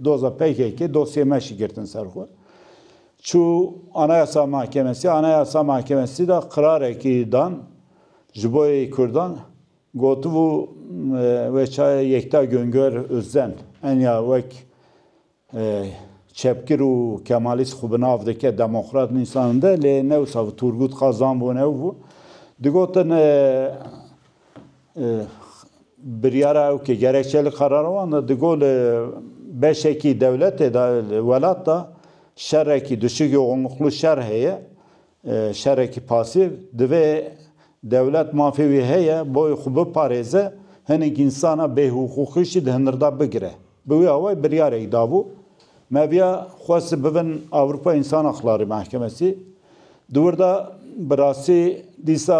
doza PKK'ê dosyê me jî girtin ser xwe. Çû Anayasa Mahkemesî, Anayasa Mahkemesî de qirarekî dan ji bo yê kurdan. Gotibû wê çayê Yekta Güngör Özden enya wek çepgir û kemalîst xwe bi nav dike, demokrat nûsaninde lê ne wisa bû, Turgut Kazan bû ne ew bû. Digotin biryara ew ke gerekçe li karara wan de digot li beşekî dewletê de, li welat de şerekî duşik yoxunluklu şer heye Şerekî pasîv, divê dewlet mafê wî heye boyê xwe biparêze, hinek însana bêhiqûqî jî di hindir de bigire. Bi wî awayî biryarek dabû. Mevya xwest bibin Ewropa Însan Haqlarî Mehkemesî. Di wir de bi rastî dîsa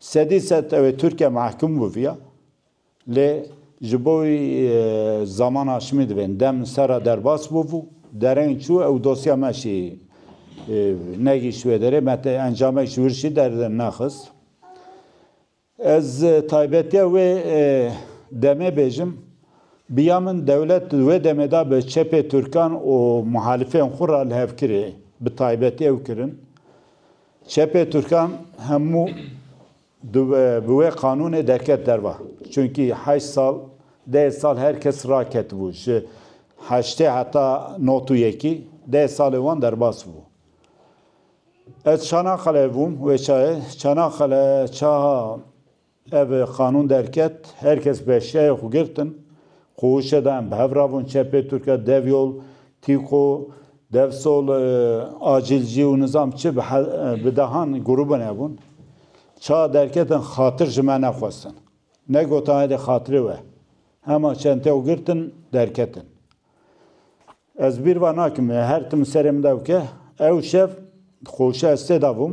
Sedî sed ew ê Tirkiye mehkum biviya lê ji bo wî zaman aşimî divên dem li ser re derbas bûbû. Dereng çû ew dosya me jî negihîşt wê derê me tê encamek ji wir jî dernexist. Ez taybetiya wê demê bêjim biya min dewlet di wê demê de bi çepê Tirkan û muhalifên xwe re li hev kirê bi taybetî ew kirin. Çepê Tirkan hemû bi wê qanûnê derket derva. Çunkî heşt sal, deh sal her kes raketibû ji heştê heta not û yekî, deh salê wan derbas bû. Ez Çanaqaleyê bûm, wê çayê Çanaqale çaha Ev qanûn derket, her kes bi eşyayê xwe girtin, ku hişê da em bi hev rabûn, çepê Tirk e, dev yol, tîko, dev sol, acîlcî û nizam çi bi bi dehan grûbin hebûn, ça derketin xatir ji me nexwestin. Negotin heydê xatirê we, hema çenteya xwe girtin derketin. Ez bîr ve nakim, her tim li serê min de bike, ew şev xwe hişê estê de bûm,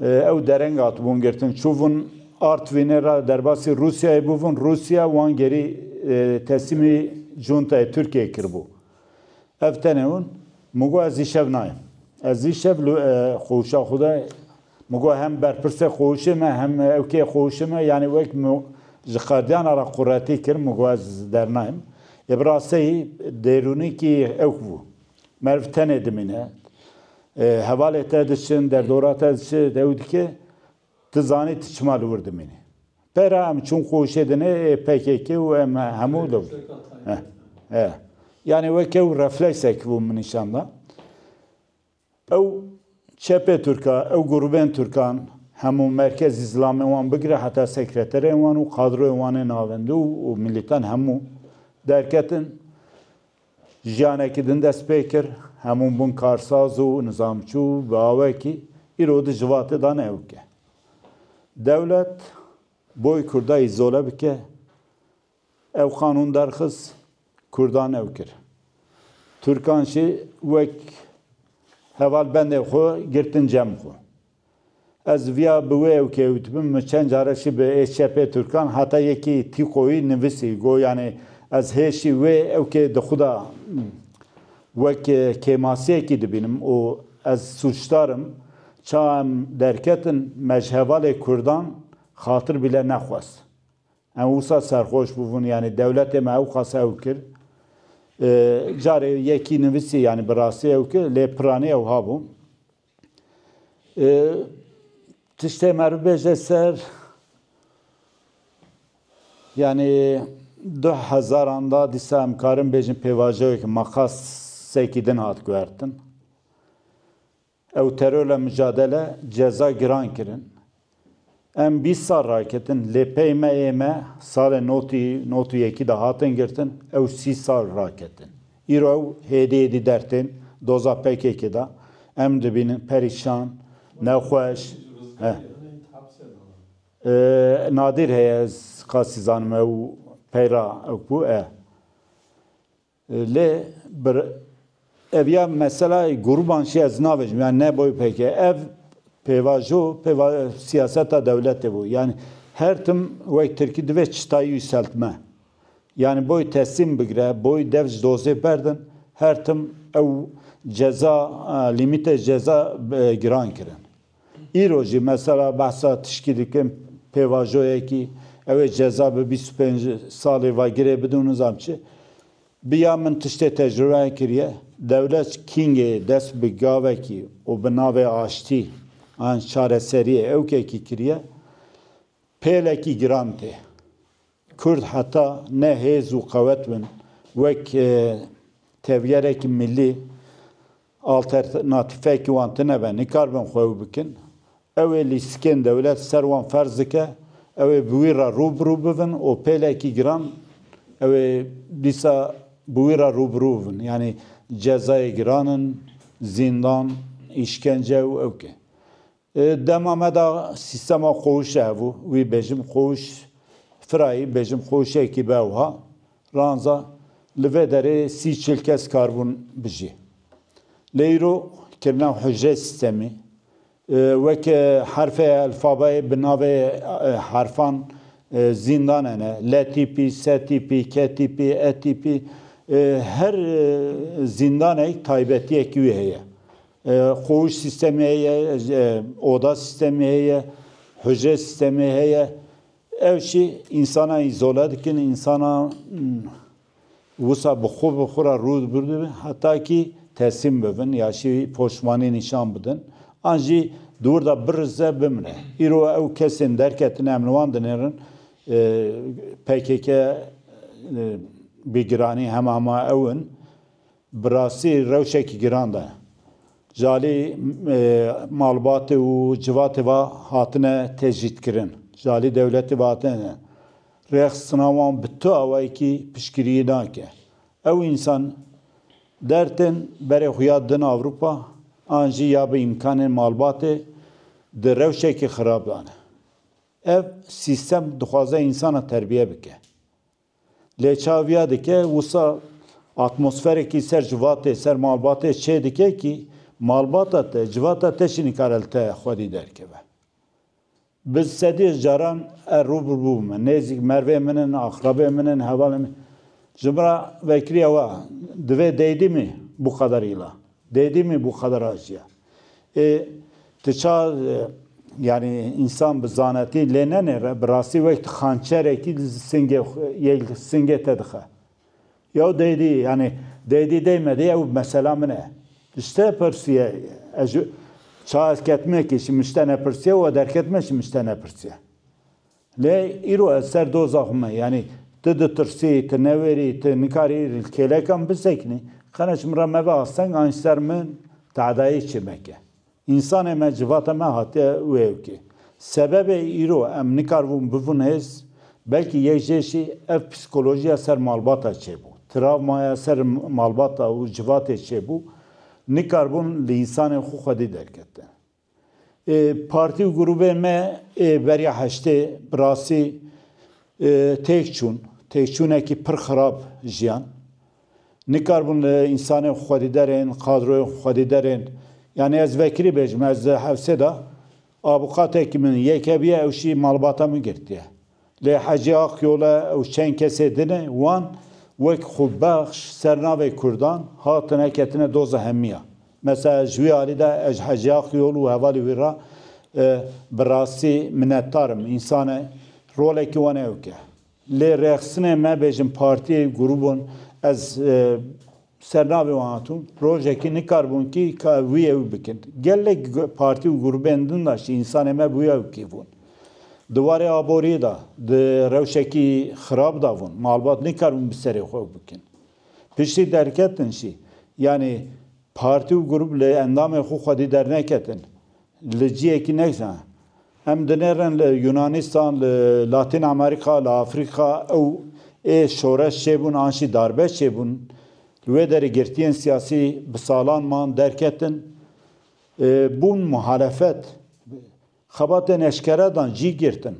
Ew dereng hatibûn girtin, çûbûn Artwînê re derbasî Rûsyayê bûbûn, Rûsya wan gerî teslîmî cuntayê Tirkiyeyê kiribû. Ev tenê hûn. Min got ez îşev nayêm. Ez îşev li xwewşa xwe de min got hem berpirsê xwewşê me hem ewkeyê xwewşê me yanî wek min ji qerdiyana re quretî kir min got ez dernayêm. Ê bi rastiyê dêrûnîkî ewk bû. Merv tenê dimîne. Hevalê te diçin, derdora te diçi, dew dike. Tu zanî tu çima li wir dimînî. Pera em çûn qoşê dinê ê PKK û em hemû li wir. He. Yanî weke ew refleksekî bû min nîşan da. Ew çepê Tirka, ew grûbên Tirkan hemû merkezî zilamên wan bigire heta sekreterên wan û kadroyên wan ên navendî û milîtan hemû derketin. Jiyanekî din dest pê kir, hemûn bûn karsaz û nizamçû bi awekî îro di civatê de ne ewk e. Dewlet boy Kurda îzole bike, ev qanûn derxist, Kurdan ew kir. Turkan jî wek heval bendên xwe girtin cem xwe. Ez viya bi wê ew kewt bim, min çend care şî bi HCP Turkan heta yekî tîqoyî nivisî, go yanê ez hê şî wê ew kê di xwe de wek kêmasiyekî dibînim û ez sûcdar im, ça em derketin me ji hevalê kurdan xatir bîle nexwest. Em wisa serxweş bûbûn yanê dewletê me ewqas ew kir. Carê yekî nivisî yanê bi rastî ew kir lê piranî ew habû. Tiştê me bibêje ser yanî du hezaran de dîsa em karin bêjin pêvajeyeke mexasekî din hat guhertin. Ew terorla micadele ceza giran kirin. Em bîst sal raketin lê pey me ê me salê notî not û yekî de hatin girtin, ew sî sal raketin. Îro ew hêdî hêdî dertên doza pkk de em dibînin perîşan, nexweş eh. Nadîr heye ez qasî zanim ew pey ra ew ku eh. Lê bir ev ya meselay Gurbanşî ez navêjim yanî ne bo ypk ev pêvajo pêva siyaseta dewletê bo yanî her tim wek tirkî divê çitayî yûseltme yanî boy teslîm bigre boy dev ji dozê berdin her tim ew ceza lîmîtê ceza giran kirin. Îro jî mesela behsa tişkî dikim pêvajoyekî ew ê ceza bi bîst û pênc salî va girê bidim nizam çi bi ya min tiştê tecrûbeyan kiriye dewlet kîngê dest bi gavekî û bi navê aştî an çareseriyê ewkekî kiriye pêlekî giran tê. Kurd heta ne hêz û qewet bin wek tevgerekî milî, alternatîfekî wan tinebe, nikarbin xwe ew bikin. Ew ê lîstikên dewlet ser wan ferz dike, ew ê bi wî re rû bi rû bibin û pêlekî giran ew ê dîsa bi wî re rû bi rû bibin. Yanî cezayê giran in, zîndan, îşkence û ewke. Di dema me de sîstema qowişê hebû, wî bêjim qowiş firayî, bêjim qowişekî be wiha, ranza li vê derê sî çil kes karibûn bijî. Lê îro kirina hicrê sîstemî, weke herfê elfabayê bi navê herfan zîndan hene, le tîpî, se tîpî, ke tîpî, e tîpî, her zîndaneyî taybetiyekî wî heye. Qûş sîstemê heye, oda sîstemê heye, hûcre sîstemê heye. Ew jî însanan îzole dikin, însanan wisa bi xwe bi xwe re rû bidin heta kî teslîm bibin ya jî poşmanî nîşan bidin. An jî di wir de birize bimre. Îro ew kesên derketine em li wan dinêrin, pkk bi giranî hema hema ew in. Bi rastî rewşekî giran de. Ji alî malbatê û civatê ve hatine tecrîdkirin. Ji alî dewletê ve hatine rêxistina wan bi tu awayekî piştgiriyê nake. Ew însan der tên berê xwe ya din Ewropa an jî ya bi îmkanên malbatê di rewşekî xirab de ne. Ev sîstem dixwaze însanan terbiye bike. Lê çaviya dike wisa atmosferekî ser civatê, ser malbatê çê dike kî malbata te, civata te çi nikare li te xwedî derkeve. Bi sedî caran er rû bi rû bime. Nêzîk mervê min in, aqrebê min in, hevalên min. Ji min re vekiriye wa, divê deydîmî bû qederîla. Deydîmî bû qedera jiyan. Ê tu ça yanî însan bi zanetî lê nenêre bi rastî wek tu xançerekî li singê yê li singê te dixe. Yew deydî yanî deydî deymedî ew mesela min e. Ji te pirsiye ez ji ça ez ketime kî ji min ji te nepirsiye û we derketime ji min ji te nepirsiye. Lê îro ez ser doza xwe me, yanî tu ditirsî, tu newêrî, tu nikarî li kêlekan bisekinî, qene ji min re mebe asteng an ji ser min teedayê çê meke. Însanê me, civata me hatiye wê yekê. Sebebê îro em nikaribûn bibûn hêz, belkî yek jê jî ev psîkolojiya ser malbata çêbû, travmaya ser malbata û civatê çêbû, nikaribûn li însanên xwe xwedî derketin. Partî û grûbên me ê beriya heştê bi rastî têk çûn. Têkçûnekî pir xirab jiyan. Nikaribûn li însanên xwedîderên, kadroyên xwedîderên yanî ez vekirî bêjim, ez di hewsê de abukatekî min yekê bîye ew jî malbata min girtiye. Lê Hecî Aqyola ew çend kesê din e, wan wek xwebexş ser navê Kurdan hatine ketine doza hemiya. Mesela ji wî alî de ez ji Hecî Aqyol û hevalê wî re bi rastî minetdar im. Însane rolekî wan ewk e. Lê rêxistinê me bêjin partiyê, grûbon ez Sernavê wan hatûn, Rojekî ne karbûnkî ka ew wî ew bikin. Gelek partî û grûbên din de jî însanên me wî ew kî bûn. Di warê aboriyê de di rewşekî xirab de bûn. Malbat ne karbûn bi serê xwe ew bikin. Piştî derketin jî. Yanî partî û grûb li endamên xwe xwedî derneketin. Li cihekî neysa em dinêrin li Yûnanîstan, li Latîn Amerîka, li Afrîka ew ê şoreş çêbûn an jî darbe çêbûn. Li wê derê girtiyên siyasî bi salan man derketin. Bûn muhalefet. Xebatên eşkere dan cî girtin.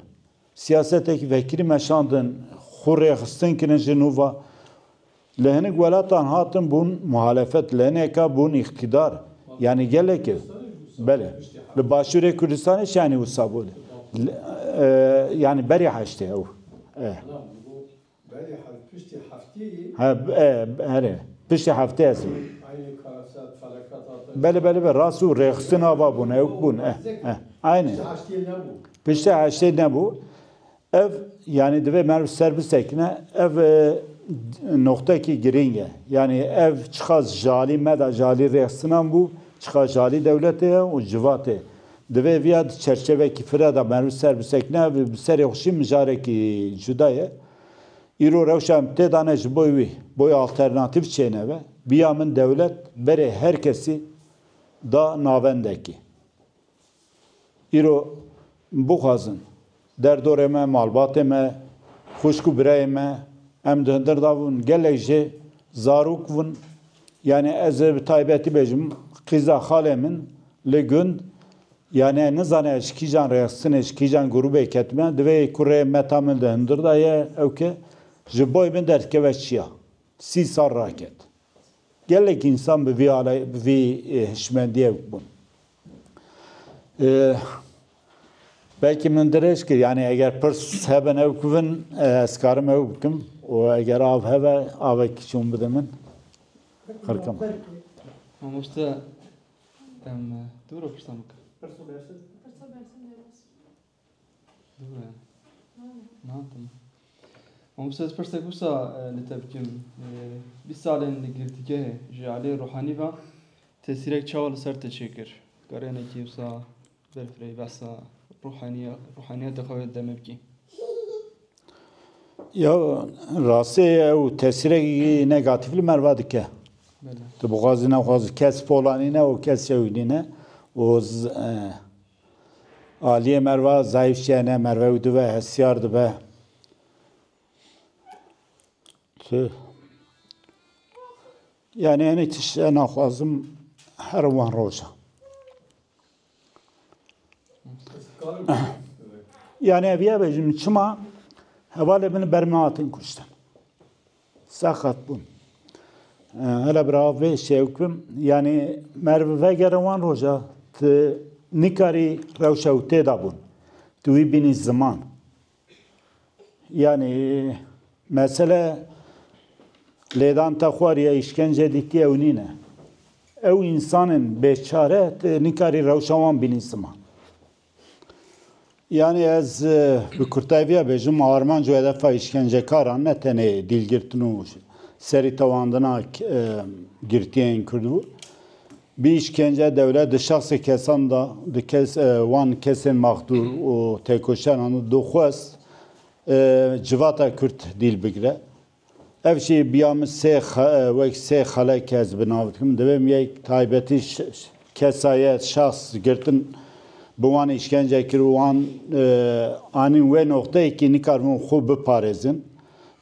Siyasetekî vekirî meşandin, xwe rêxistin kirin ji nû ve. Li hinek welatan hatin bûn muhalefet, li hineka bûn îktîdar. Yanî gelekî belê. Li Başûrê Kurdistanê şanî wisa bû. Yanî berî heştê ew e. Belê her piştî hefteyê. He here piştî heftê ez ê. Aynê karaset ferekat hate. Belê belê be rast û rêxistin ava bûn ewk bûn eh eh aynê. Piştî heştê nebû. Piştî heştê nebû ev yanî divê merv ser bisekine ev noqtekî girîng e yanî ev çiqas jalî me de jalî rêxisinan bû çiqas jalî dewletê ye û civatê Divê viya di çerçevekî fira de merv ser bisekine, ev bi serê xwe jî mijarekî cuda ye. Îro rewşa em tê dane ji bo wî, boy alternatîf çêneve. Viya min dewlet berê her kesî da navendekî. Îro bixwazin. Derdorê me, malbatê me, xwişk û birayê me em di hundir de bûn. Gelek jê zarok bûn. Yanî ez ê bi taybetî bêjim qîza xalê min li gund yanî nizane ji kîjan rêxistinê, ji kîjan grûbê ketime. Divê ku rê meta min di hundir de ye ew ke ji boy min derdikeve çiya. Sî sal raket. Gelek însan bi vî alay bi vî hişmendiyek bûn. Belkî min dirêj kir yanî eger pirs hebe ew bibin ez karim ew bikim û eger av hebe avekî çûn bide min xirkim. Mamoste em dû ro pirsan bikin. Pirso bersin. Pirso bersin derbas. Dûre. Nadim. Ama bu ses perse kusa e, li te bikim. E, Bîst salên li girtîgehê ji aliyê ruhanî ve tesîrek çawa li ser te çêkir? Karênekî wisa berfireyî behsa ruhaniya ruhaniyeta xwe wê demê bikî. Ya rastê ew tesîrekî negatif li me ve dike. Bele. Tu bixwazî nexwazî kes polanîne û kes yewînîne û z- e, Aliyê merva zayîf çiye ne merve û dive hestiyar dibe. Yani ene tişt e naxwazim her wan roja. Yani eviye bejim çima hevalê min berme hatin kuştin. Saxet bûn. Hele birav vê şewkim yanî merv vegere wan roja tu nikarî rewşa ew têda bûn. Tu wî bînî ziman. Yanî mesele lêdan te xwar ya îşkence dîtî ew nîne. Ew însanên bêçare tu nikarî rewşa wan bînî ziman. Yanî ez bi kurtayî bêjim armanc û hedefa îşkencekaran ne tenê dîlgirtin û serîtewandina girtiyên Kurd bû. Bi îşkence dewlet di şexsê kesan de di kes wan kesên maxdûr û têkoşeran de dixwest civata Kurd dîl bigire. Ev jî biya min sê wek sê xele kes bi nav dikim. Divê min yek taybetî kesa ye şax girtin bi wan îşkence kir û wan anîn wê noxteyê kî nikaribûn xwe biparêzin.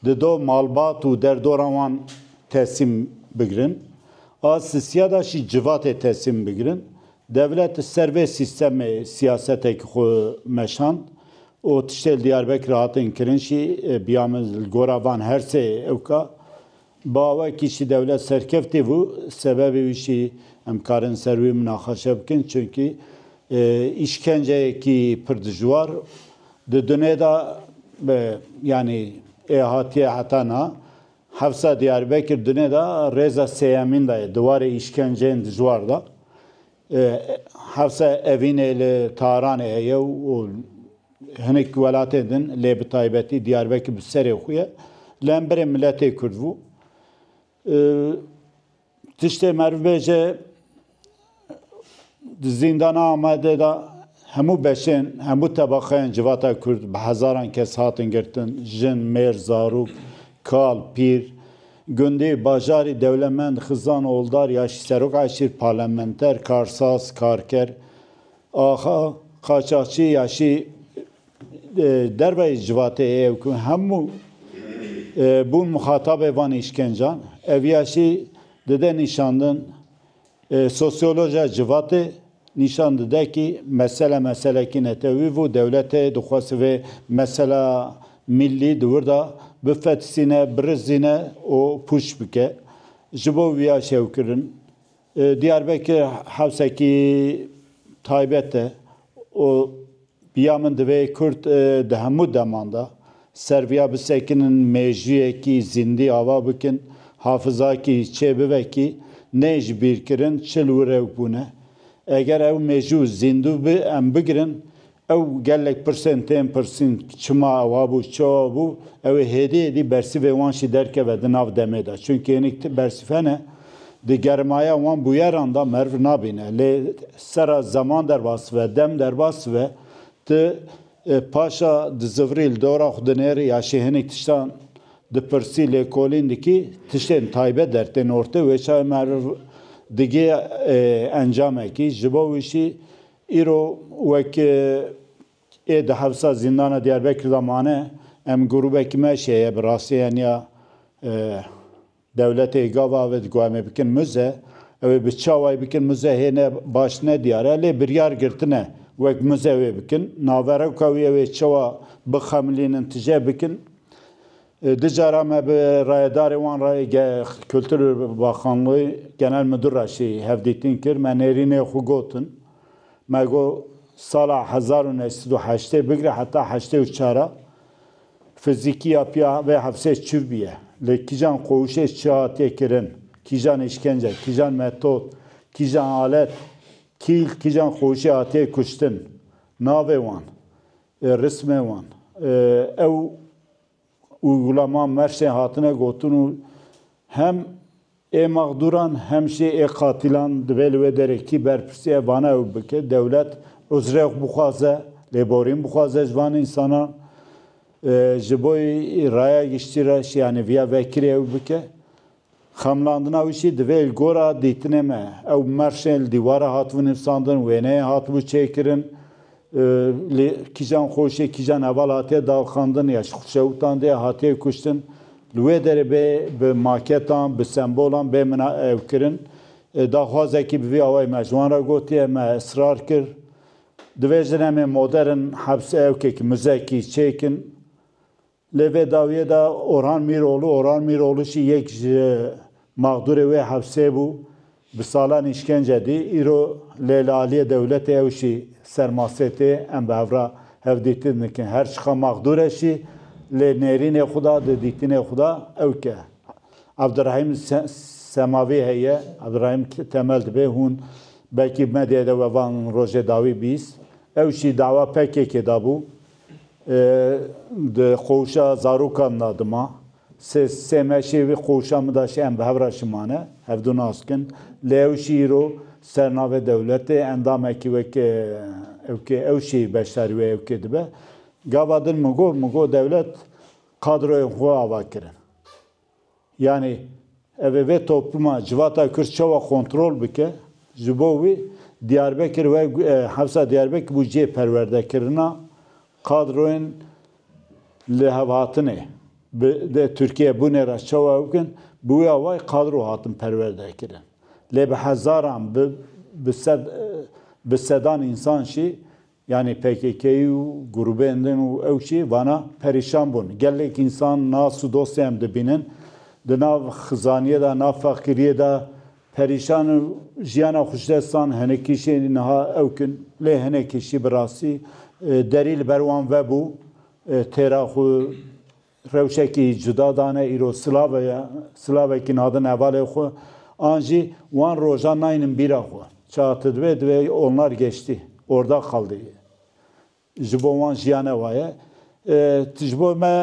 Di do malbat û derdoran wan tesîm bigirin. A sisiya de jî civatê tesîm bigirin. Dewlet li ser vê sîstemê siyasetekî xwe meşand û tiştê li Diyarbekirê hatin kirin jî biya min li gora van her sê ewka bi awekî jî dewlet serkeftî bû. Sebebê wî jî em karin ser wî minaqeşe bikin çimkî îşkenceyekî pir dijwar di dunê de yanî ê hatiye heta niha Hevsa Diyarbekir di nê de rêza sêyemîn de ye di warê îşkenceyên dijwar de. Hevsa Evînê li Taranê heye û hinek welatên din lê bi taybetî Diyarbekir bi serê xwe ye. Li hemberê miletê Kurd bû. Tiştê meriv bêje di zîndana Amedê de hemû beşên, hemû tebaqeyên civata Kurd bi hezaran kes hatin girtin, jin, mêr, zarok, kal, pîr, gundî, bajarî, dewlemend, xizan, oldar, yaşî, serok eşîr, parlamenter, karsaz, karker, axa, qaçaxçî, yaşî, Derveyî civatê heye ku hemû bûn muxatabê van îşkencan. Ev ya jî dide nîşandin sosyolojiya civatê nîşan dide kî mesele meselekî netewî bû. Dewletê dixwest vê mesela mîllî di wir de bifetisîne, birizîne û pûç bike. Ji bo wî ya şewkirin Diyarbekir hewsekî taybet e û ya min divê Kurd di hemû deman de ser viya bisekinin, mêjûyekî zîndî ava bikin, hafizakî çê bibe kî neyê ji bîrkirin çil û rewk bûne. Eger ew mêjû zîndû bi em bigirin Ew gelek pirsên tên pirsîn, çima ew hebû, çi hebû, ew ê hêdî hêdî bersîvê wan jî derkeve di nav demê de. Çimkî hinek ti bersîve ne, di germaya wan bûyeran de meriv nabîne. Lê sera zeman derbas bibe, dem derbas bibe, ti paşa di zivirî li dora xwe dinêrî ya jî hinek tiştan dipirsî, lêkolîn dikî, tiştên taybet dertên ortê, wê çaye meriv digihê encamekî. Ji bo wî jî Îro wek ê di hevsa zîndana Diyarbekir de mane, em grûbekî me şeye bi rastî heniya dewletê ê gava ave di ku em ê bikin muze. Ew ê bi çawayî bikin muze hê ne baş ne diyar e. Lê biryar girtine wek muze wê bikin. Naverewka wî ew ê çawa bixemilînin tije bikin. Du cara me bi rayedarê wan re yê Kultur Baxanlî Genel Midur re jî hevdîtin kir. Me nêrînê xwe gotin. Me got sala hezar û neh sed û heştê bigre heta heştê û çar a fizîkî ya pîya vê hevsê çiv bûye. Lê kîjan qowişê çi hatiye kirin, kîjan îşkence, kîjan metod, kîjan alet, kîl, kîjan qowişê hatiye kuştin, navê wan, Rismên wan ew û Gulama Merşên hatine gotin û hem ê maxdûran hem jî ê qatîlan divê li wê derê kî berpirsî ev vana ew bike, dewlet uzrê xwe bixwaze, lêborîn bixwaze ji van însanan, ji bo raya giştî re şiyanî viya vekirî ew bike. Xemlandina wî jî divê li gora dîtinê me. Ew merşên li dîwara hatibû nivîsandin, wêneyên hatibû çêkirin, li kîjan xweşê, kîjan heval hatiye dalxandin ya ji xweşewitan dê hatiye kuştin, li wê derê bê bi maketan, bi sembolan bê mina ew kirin. Daxwazekî bi vî awayî me ji wan re gotiye, me israr kir. Divê jin em ê modern, hebs, ewkekî, muzekî çêkin. Li vê dawiyê de Orhan Mîroğlu, Oran Miroğlu jî yek ji maxdûrê wê hevsê bû. Bi salan îşkence dî. Îro lê li aliyê dewletê ew jî ser masê tê. Em bi hev re hevdîtin dikin. Her çiqas maxdûr e jî lê nêrînê xwe da, di dîtinê xwe de ew ke Evdirahîm Semavî heye, Evdirahîm Temel dibe, hûn belkî medyayê de we van rojê dawî bîst. Ew jî dawa PKK'ê de bû. Di qoşa zaroka min de dima sê sê meşê vê qoşa min de şî em bi hev re şimane, hev du nas kin. Lê ew şî îro ser navê dewletê endamekî wek ewkê ew şî beşdarî wê ewkê dibe. Gava din min got, min got dewlet kadroyên xwe ava kirin. Yanî ev ê vê toplûma civata Kurd çawa kontrol bike? Ji bo wî Diyarbekir we Hewsa Diyarbekir bû cihê perwerdekirina kadroyên lêhevhatinê. Bi di Tirkiyeyê bûnê re çawa ew bikin? Bi wê awayî kadro hatin perwerdekirin. Lê bi hezaran, bi bi sed bi sedan însan jî Yanî pkk-yî û grûbên din û ew jî vana perîşan bûn. Gelek însan nas û dostê em dibînin di nav xizaniyê de, nav feqîriyê de perîşan in û jiyana xwişdestan hinekî jî niha ewk in. Lê hinekî jî bi rastî derî li ber wan vebû têra xwe Rewşekî cuda dane îro silave ye, silavekî nadin hevalê xwe, an jî wan rojan nayînin bîra xwe. Çax ti divê divê olnar geştî, orda qaldî. Ji bo wan jiyane wa ye. Ti ji bo me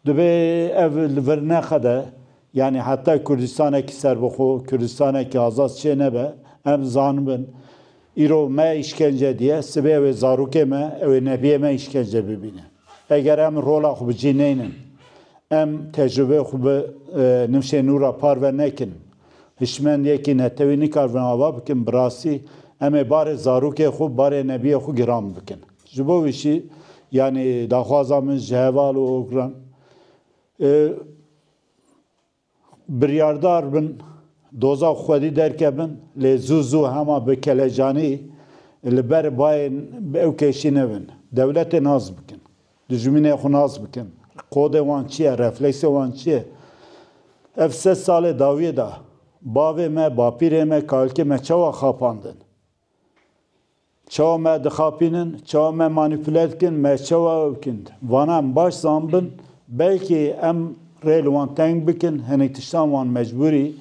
divê ev li vir neqede, yanî heta Kurdistanekî serbixwe, Kurdistanekî azad çênebe, em zanibin. Îro me îşkence diye, sibê ew ê zarokê me, ew ê nebiyê me îşkence bibîne. Eger em rola xwe bi cî neynin, em tecrubeyê xwe bi nifşên nû re parve nekin, hişmendiyekî netewî nikaribin ava bikin, bi rastî em ê barê zarokê xwe, barê nebiyê xwe giran bikin. Ji bo wî jî yanî daxwaza min ji heval û okiran. Biryardar bin doza û xwedî derkevin lê zû zû hema bi kelecanî li ber bayê ew keşî nevin. Dewletê nas bikin. Dijminê xwe nas bikin. Kodê wan çi ye, refleksê wan çi ye? Ev sed salê dawiyê de bavê me, bapîrê me, kalkê me çawa xapandin? Çawa me dixapînin, çawa me manîpule dikin, me çawa ew dikin. Vana em baş zanbin, belkî em rê li wan teng bikin, hinek tiştan wan mecbûrî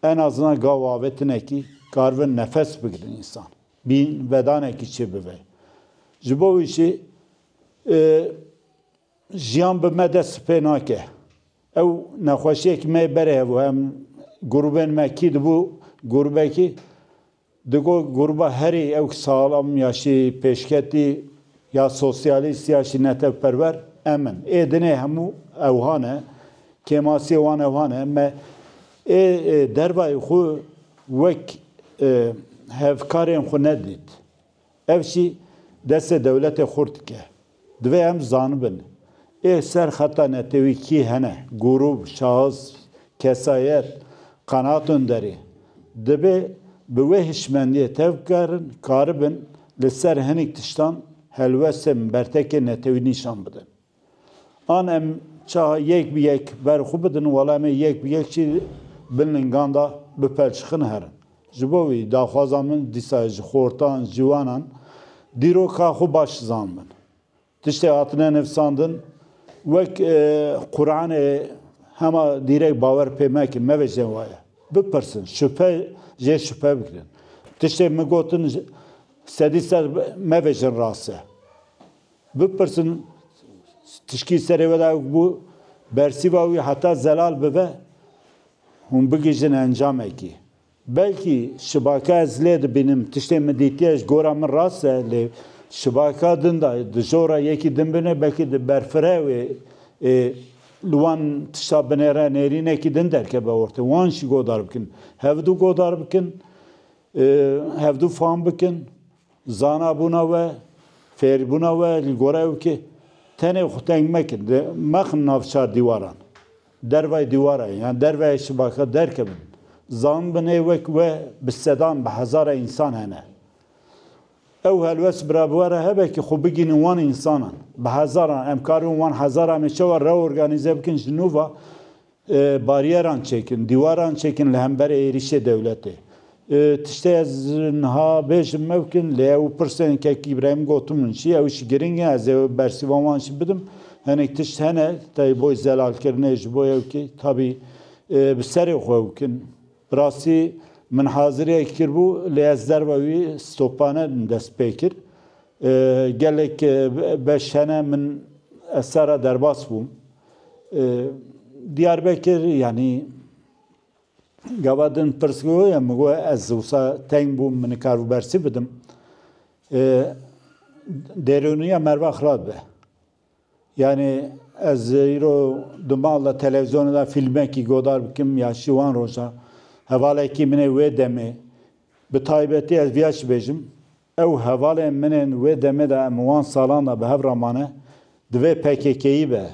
en a zina gav avêtinekî karibin nefes bigirin însan. Bîn vedanekî çê bibe. Ji bo wî jî jiyan bi me dest pê nake. Ew nexweşiyekî me yê berê hebû. Em grûbên me kî dibû grûbekî Di got Gurba herî ew salam ya şî pêşketî ya sosyalîst ya şî netewperwer em in. Ê dinê hemû ewha ne, kêmasiyê wan ewha ne. Me ê dervayê xwe wek hevkarên xwe nedît. Ev jî destê dewletê xurt dike. Divê em zanibin ê ser xeta netewî kî hene, grûb, şahis, kesayet, qenaat onderî. Dibê bi wê hişmendiyê tevbikarin karibin li ser hinîk tiştan helwestên bertekê netewî nîşan bidin. An em ça yek bi yek ber xwe bidin wala me yek bi yek jî bin lingan de bipelçixin herin. Ji bo wî daxwaza min dîsa ji xortan, ciwanan dîroka xwe baş zanibin. Tiştê hatine nivîsandin wek Quranê hema dîrek bawer pê mekin, mevejin waye. Bipirsin, şuphe jê şuphe bikirin. Tiştê min gotin sedî ser mevejin rast e. Bipirsin tişkî serê we de ku bi bersîva wî heta zelal bibe hûn bigihîjin encamekî. Belkî şibaka ez lê dibînim, tiştê min dîtiye ji gora min rast e lê şibaka din de dijora yekî din bine belkî di berfireh wê ê li wan tişta binêre nêrînekî din derkeve ortê. Wan jî godar bikin. Hevdu godar bikin, hevdu fam bikin. Zanabûna we, fêrbûna we li gora ew ki tenê xwe teng mekin, mexin navçar dîwaran, dervayê dîwaran yan dervayê şibakan derkevin. Zanibin ê wek we bi sedan, bi hezaran însan hene. Ew helwest bi re bi we re hebe ki xwe bigihînin wan însanan. Bi hezaran, em karin wan hezaran em ê çawa reorganîze bikin ji nû ve Baryeran çêkin, dîwaran çêkin li hemberê êrîşê dewletê. Tiştê ez niha bêjim mewkin lê ew pirsên kek Îbrahîm gotu min jî ew jî giring e ez ê bersîva wan jî bidim. Hinek tişt hene tevî bo zelalkirinê ji bo ew kî tabî bi serê xwe ew kin. Bi rastî min haziriyek kiribû lê ez derve wî stopane din dest pê kir. Gelek beş hene min ez serra derbas bûm. Diyarbekir yanî gava din pirsgo ye min got ez wisa teng bûm min nikaribû bersî bidim. Dêroniya merva xirab be. Yanî ez îro di mal de televîzyonê de fîlmekî godar bikim ya şîwan rojan. Hevalekî min ê wê demê bi taybetî ez vîya çi bêjim Ew hevalên min ên wê demê de em wan salan de bi hev re mane, divê pkk-yî be,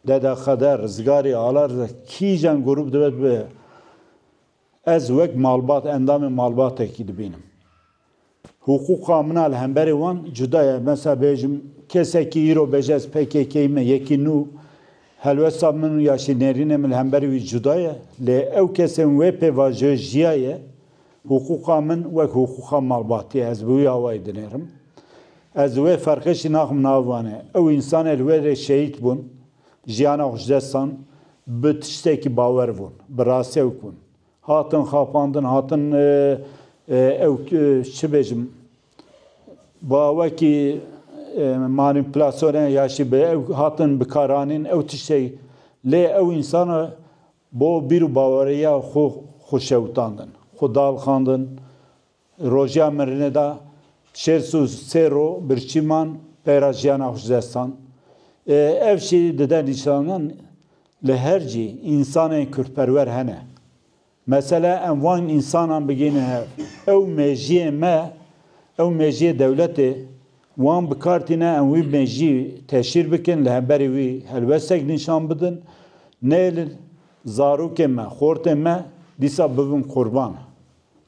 Dede Xedir, Rizgarî, Ala Riza, kîjan grûp divêt bibe, ez wek malbat, endamê malbatekî dibînim. Hiqûqa min a li hemberî wan cuda ye. Mesela bêjim kesekî îro bêje ez pkk-yî me, yekî nû helwesta min û ya jî nêrînê min li hemberî wî cuda ye. Lê ew kesên wê pê vajoyê jiyaye. Hiqûqa min wek hiqûqa malbatê ye, ez bi wî awayî dinêrim. Ez di wê ferqê jî naxim nav vanê. Ew însanê li wê rê şehîd bûn, jiyana xwe ji dest dan, bi tiştekî bawer bûn, bi rastewk bûn. Hatin xapandin, hatin ew çi bêjim, ba wekî manîpulasyonê ya jî bi ew hatin bikaranîn, ew tiştê lê ew însan Bo bîr û baweriya xwe xwe şewitandin, xwe dalxandin. Roja mirinê de şêst û sê ro birçî man peyra jiyana xwe ji dest dan. Ev jî dide nîşanan li her cî însanên kurdperwer hene. Mesele em van însanan bigihînin hev. Ew mêjiyê me, ew mêjiyê dewletê Wan bi kar tîne em wî mejî teşhîr bikin, li hemberî wî helwestek nîşan bidin. Nêlin, zarokên me, xortên me dîsa bibin qurban.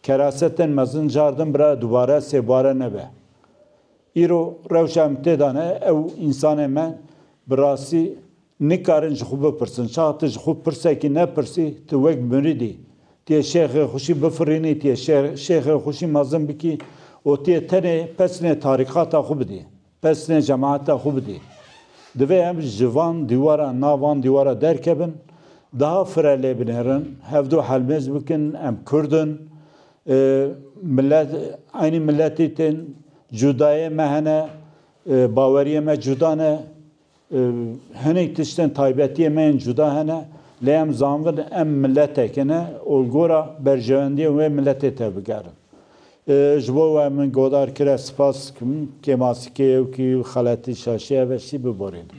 Kerase tên mezin car din bira dubare sêbare nebe. Îro rewşa em tê de ne ew însanên me bi rastî Nikarin ji xwe bipirsin, şax tu ji xwe pirsekî nepirsî, tu wek muridî, tu yê şêxê xwe jî bifirînî, tu yê şêxê xwe jî mezin bikî û tu yê tenê pesnê tarîqata xwe bidî, pesnê cemaeta xwe bidî. Divê em ji van dîwaran nav van dîwara derkevin, daha fire lê binêrin, hevdu helmêz bikin, em kurd in, milet, eynî miletî tên, cudayê me hene, baweriyê me cuda ne. Hinek tiştên taybetiyê me yên cuda hene, lê em zanibin em miletekê ne û li gora berjewendiyên wê miletê tevbigerin. Ji bo we min godar kire sipas dikim kê masî kê yewkî û xeletî şaşî heve şî biborînin.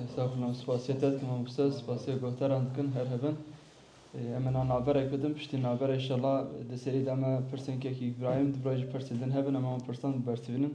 Estağfurullah. Spasiyê te dikim mamoste, spasiyê guhdaran dikim her hebin. Em hena naberek bidin, piştî naber îşallah di serî de me pirsên kekî Îbrahîm di birayî jî pirsên din hebin em wan pirsan bibersivînin.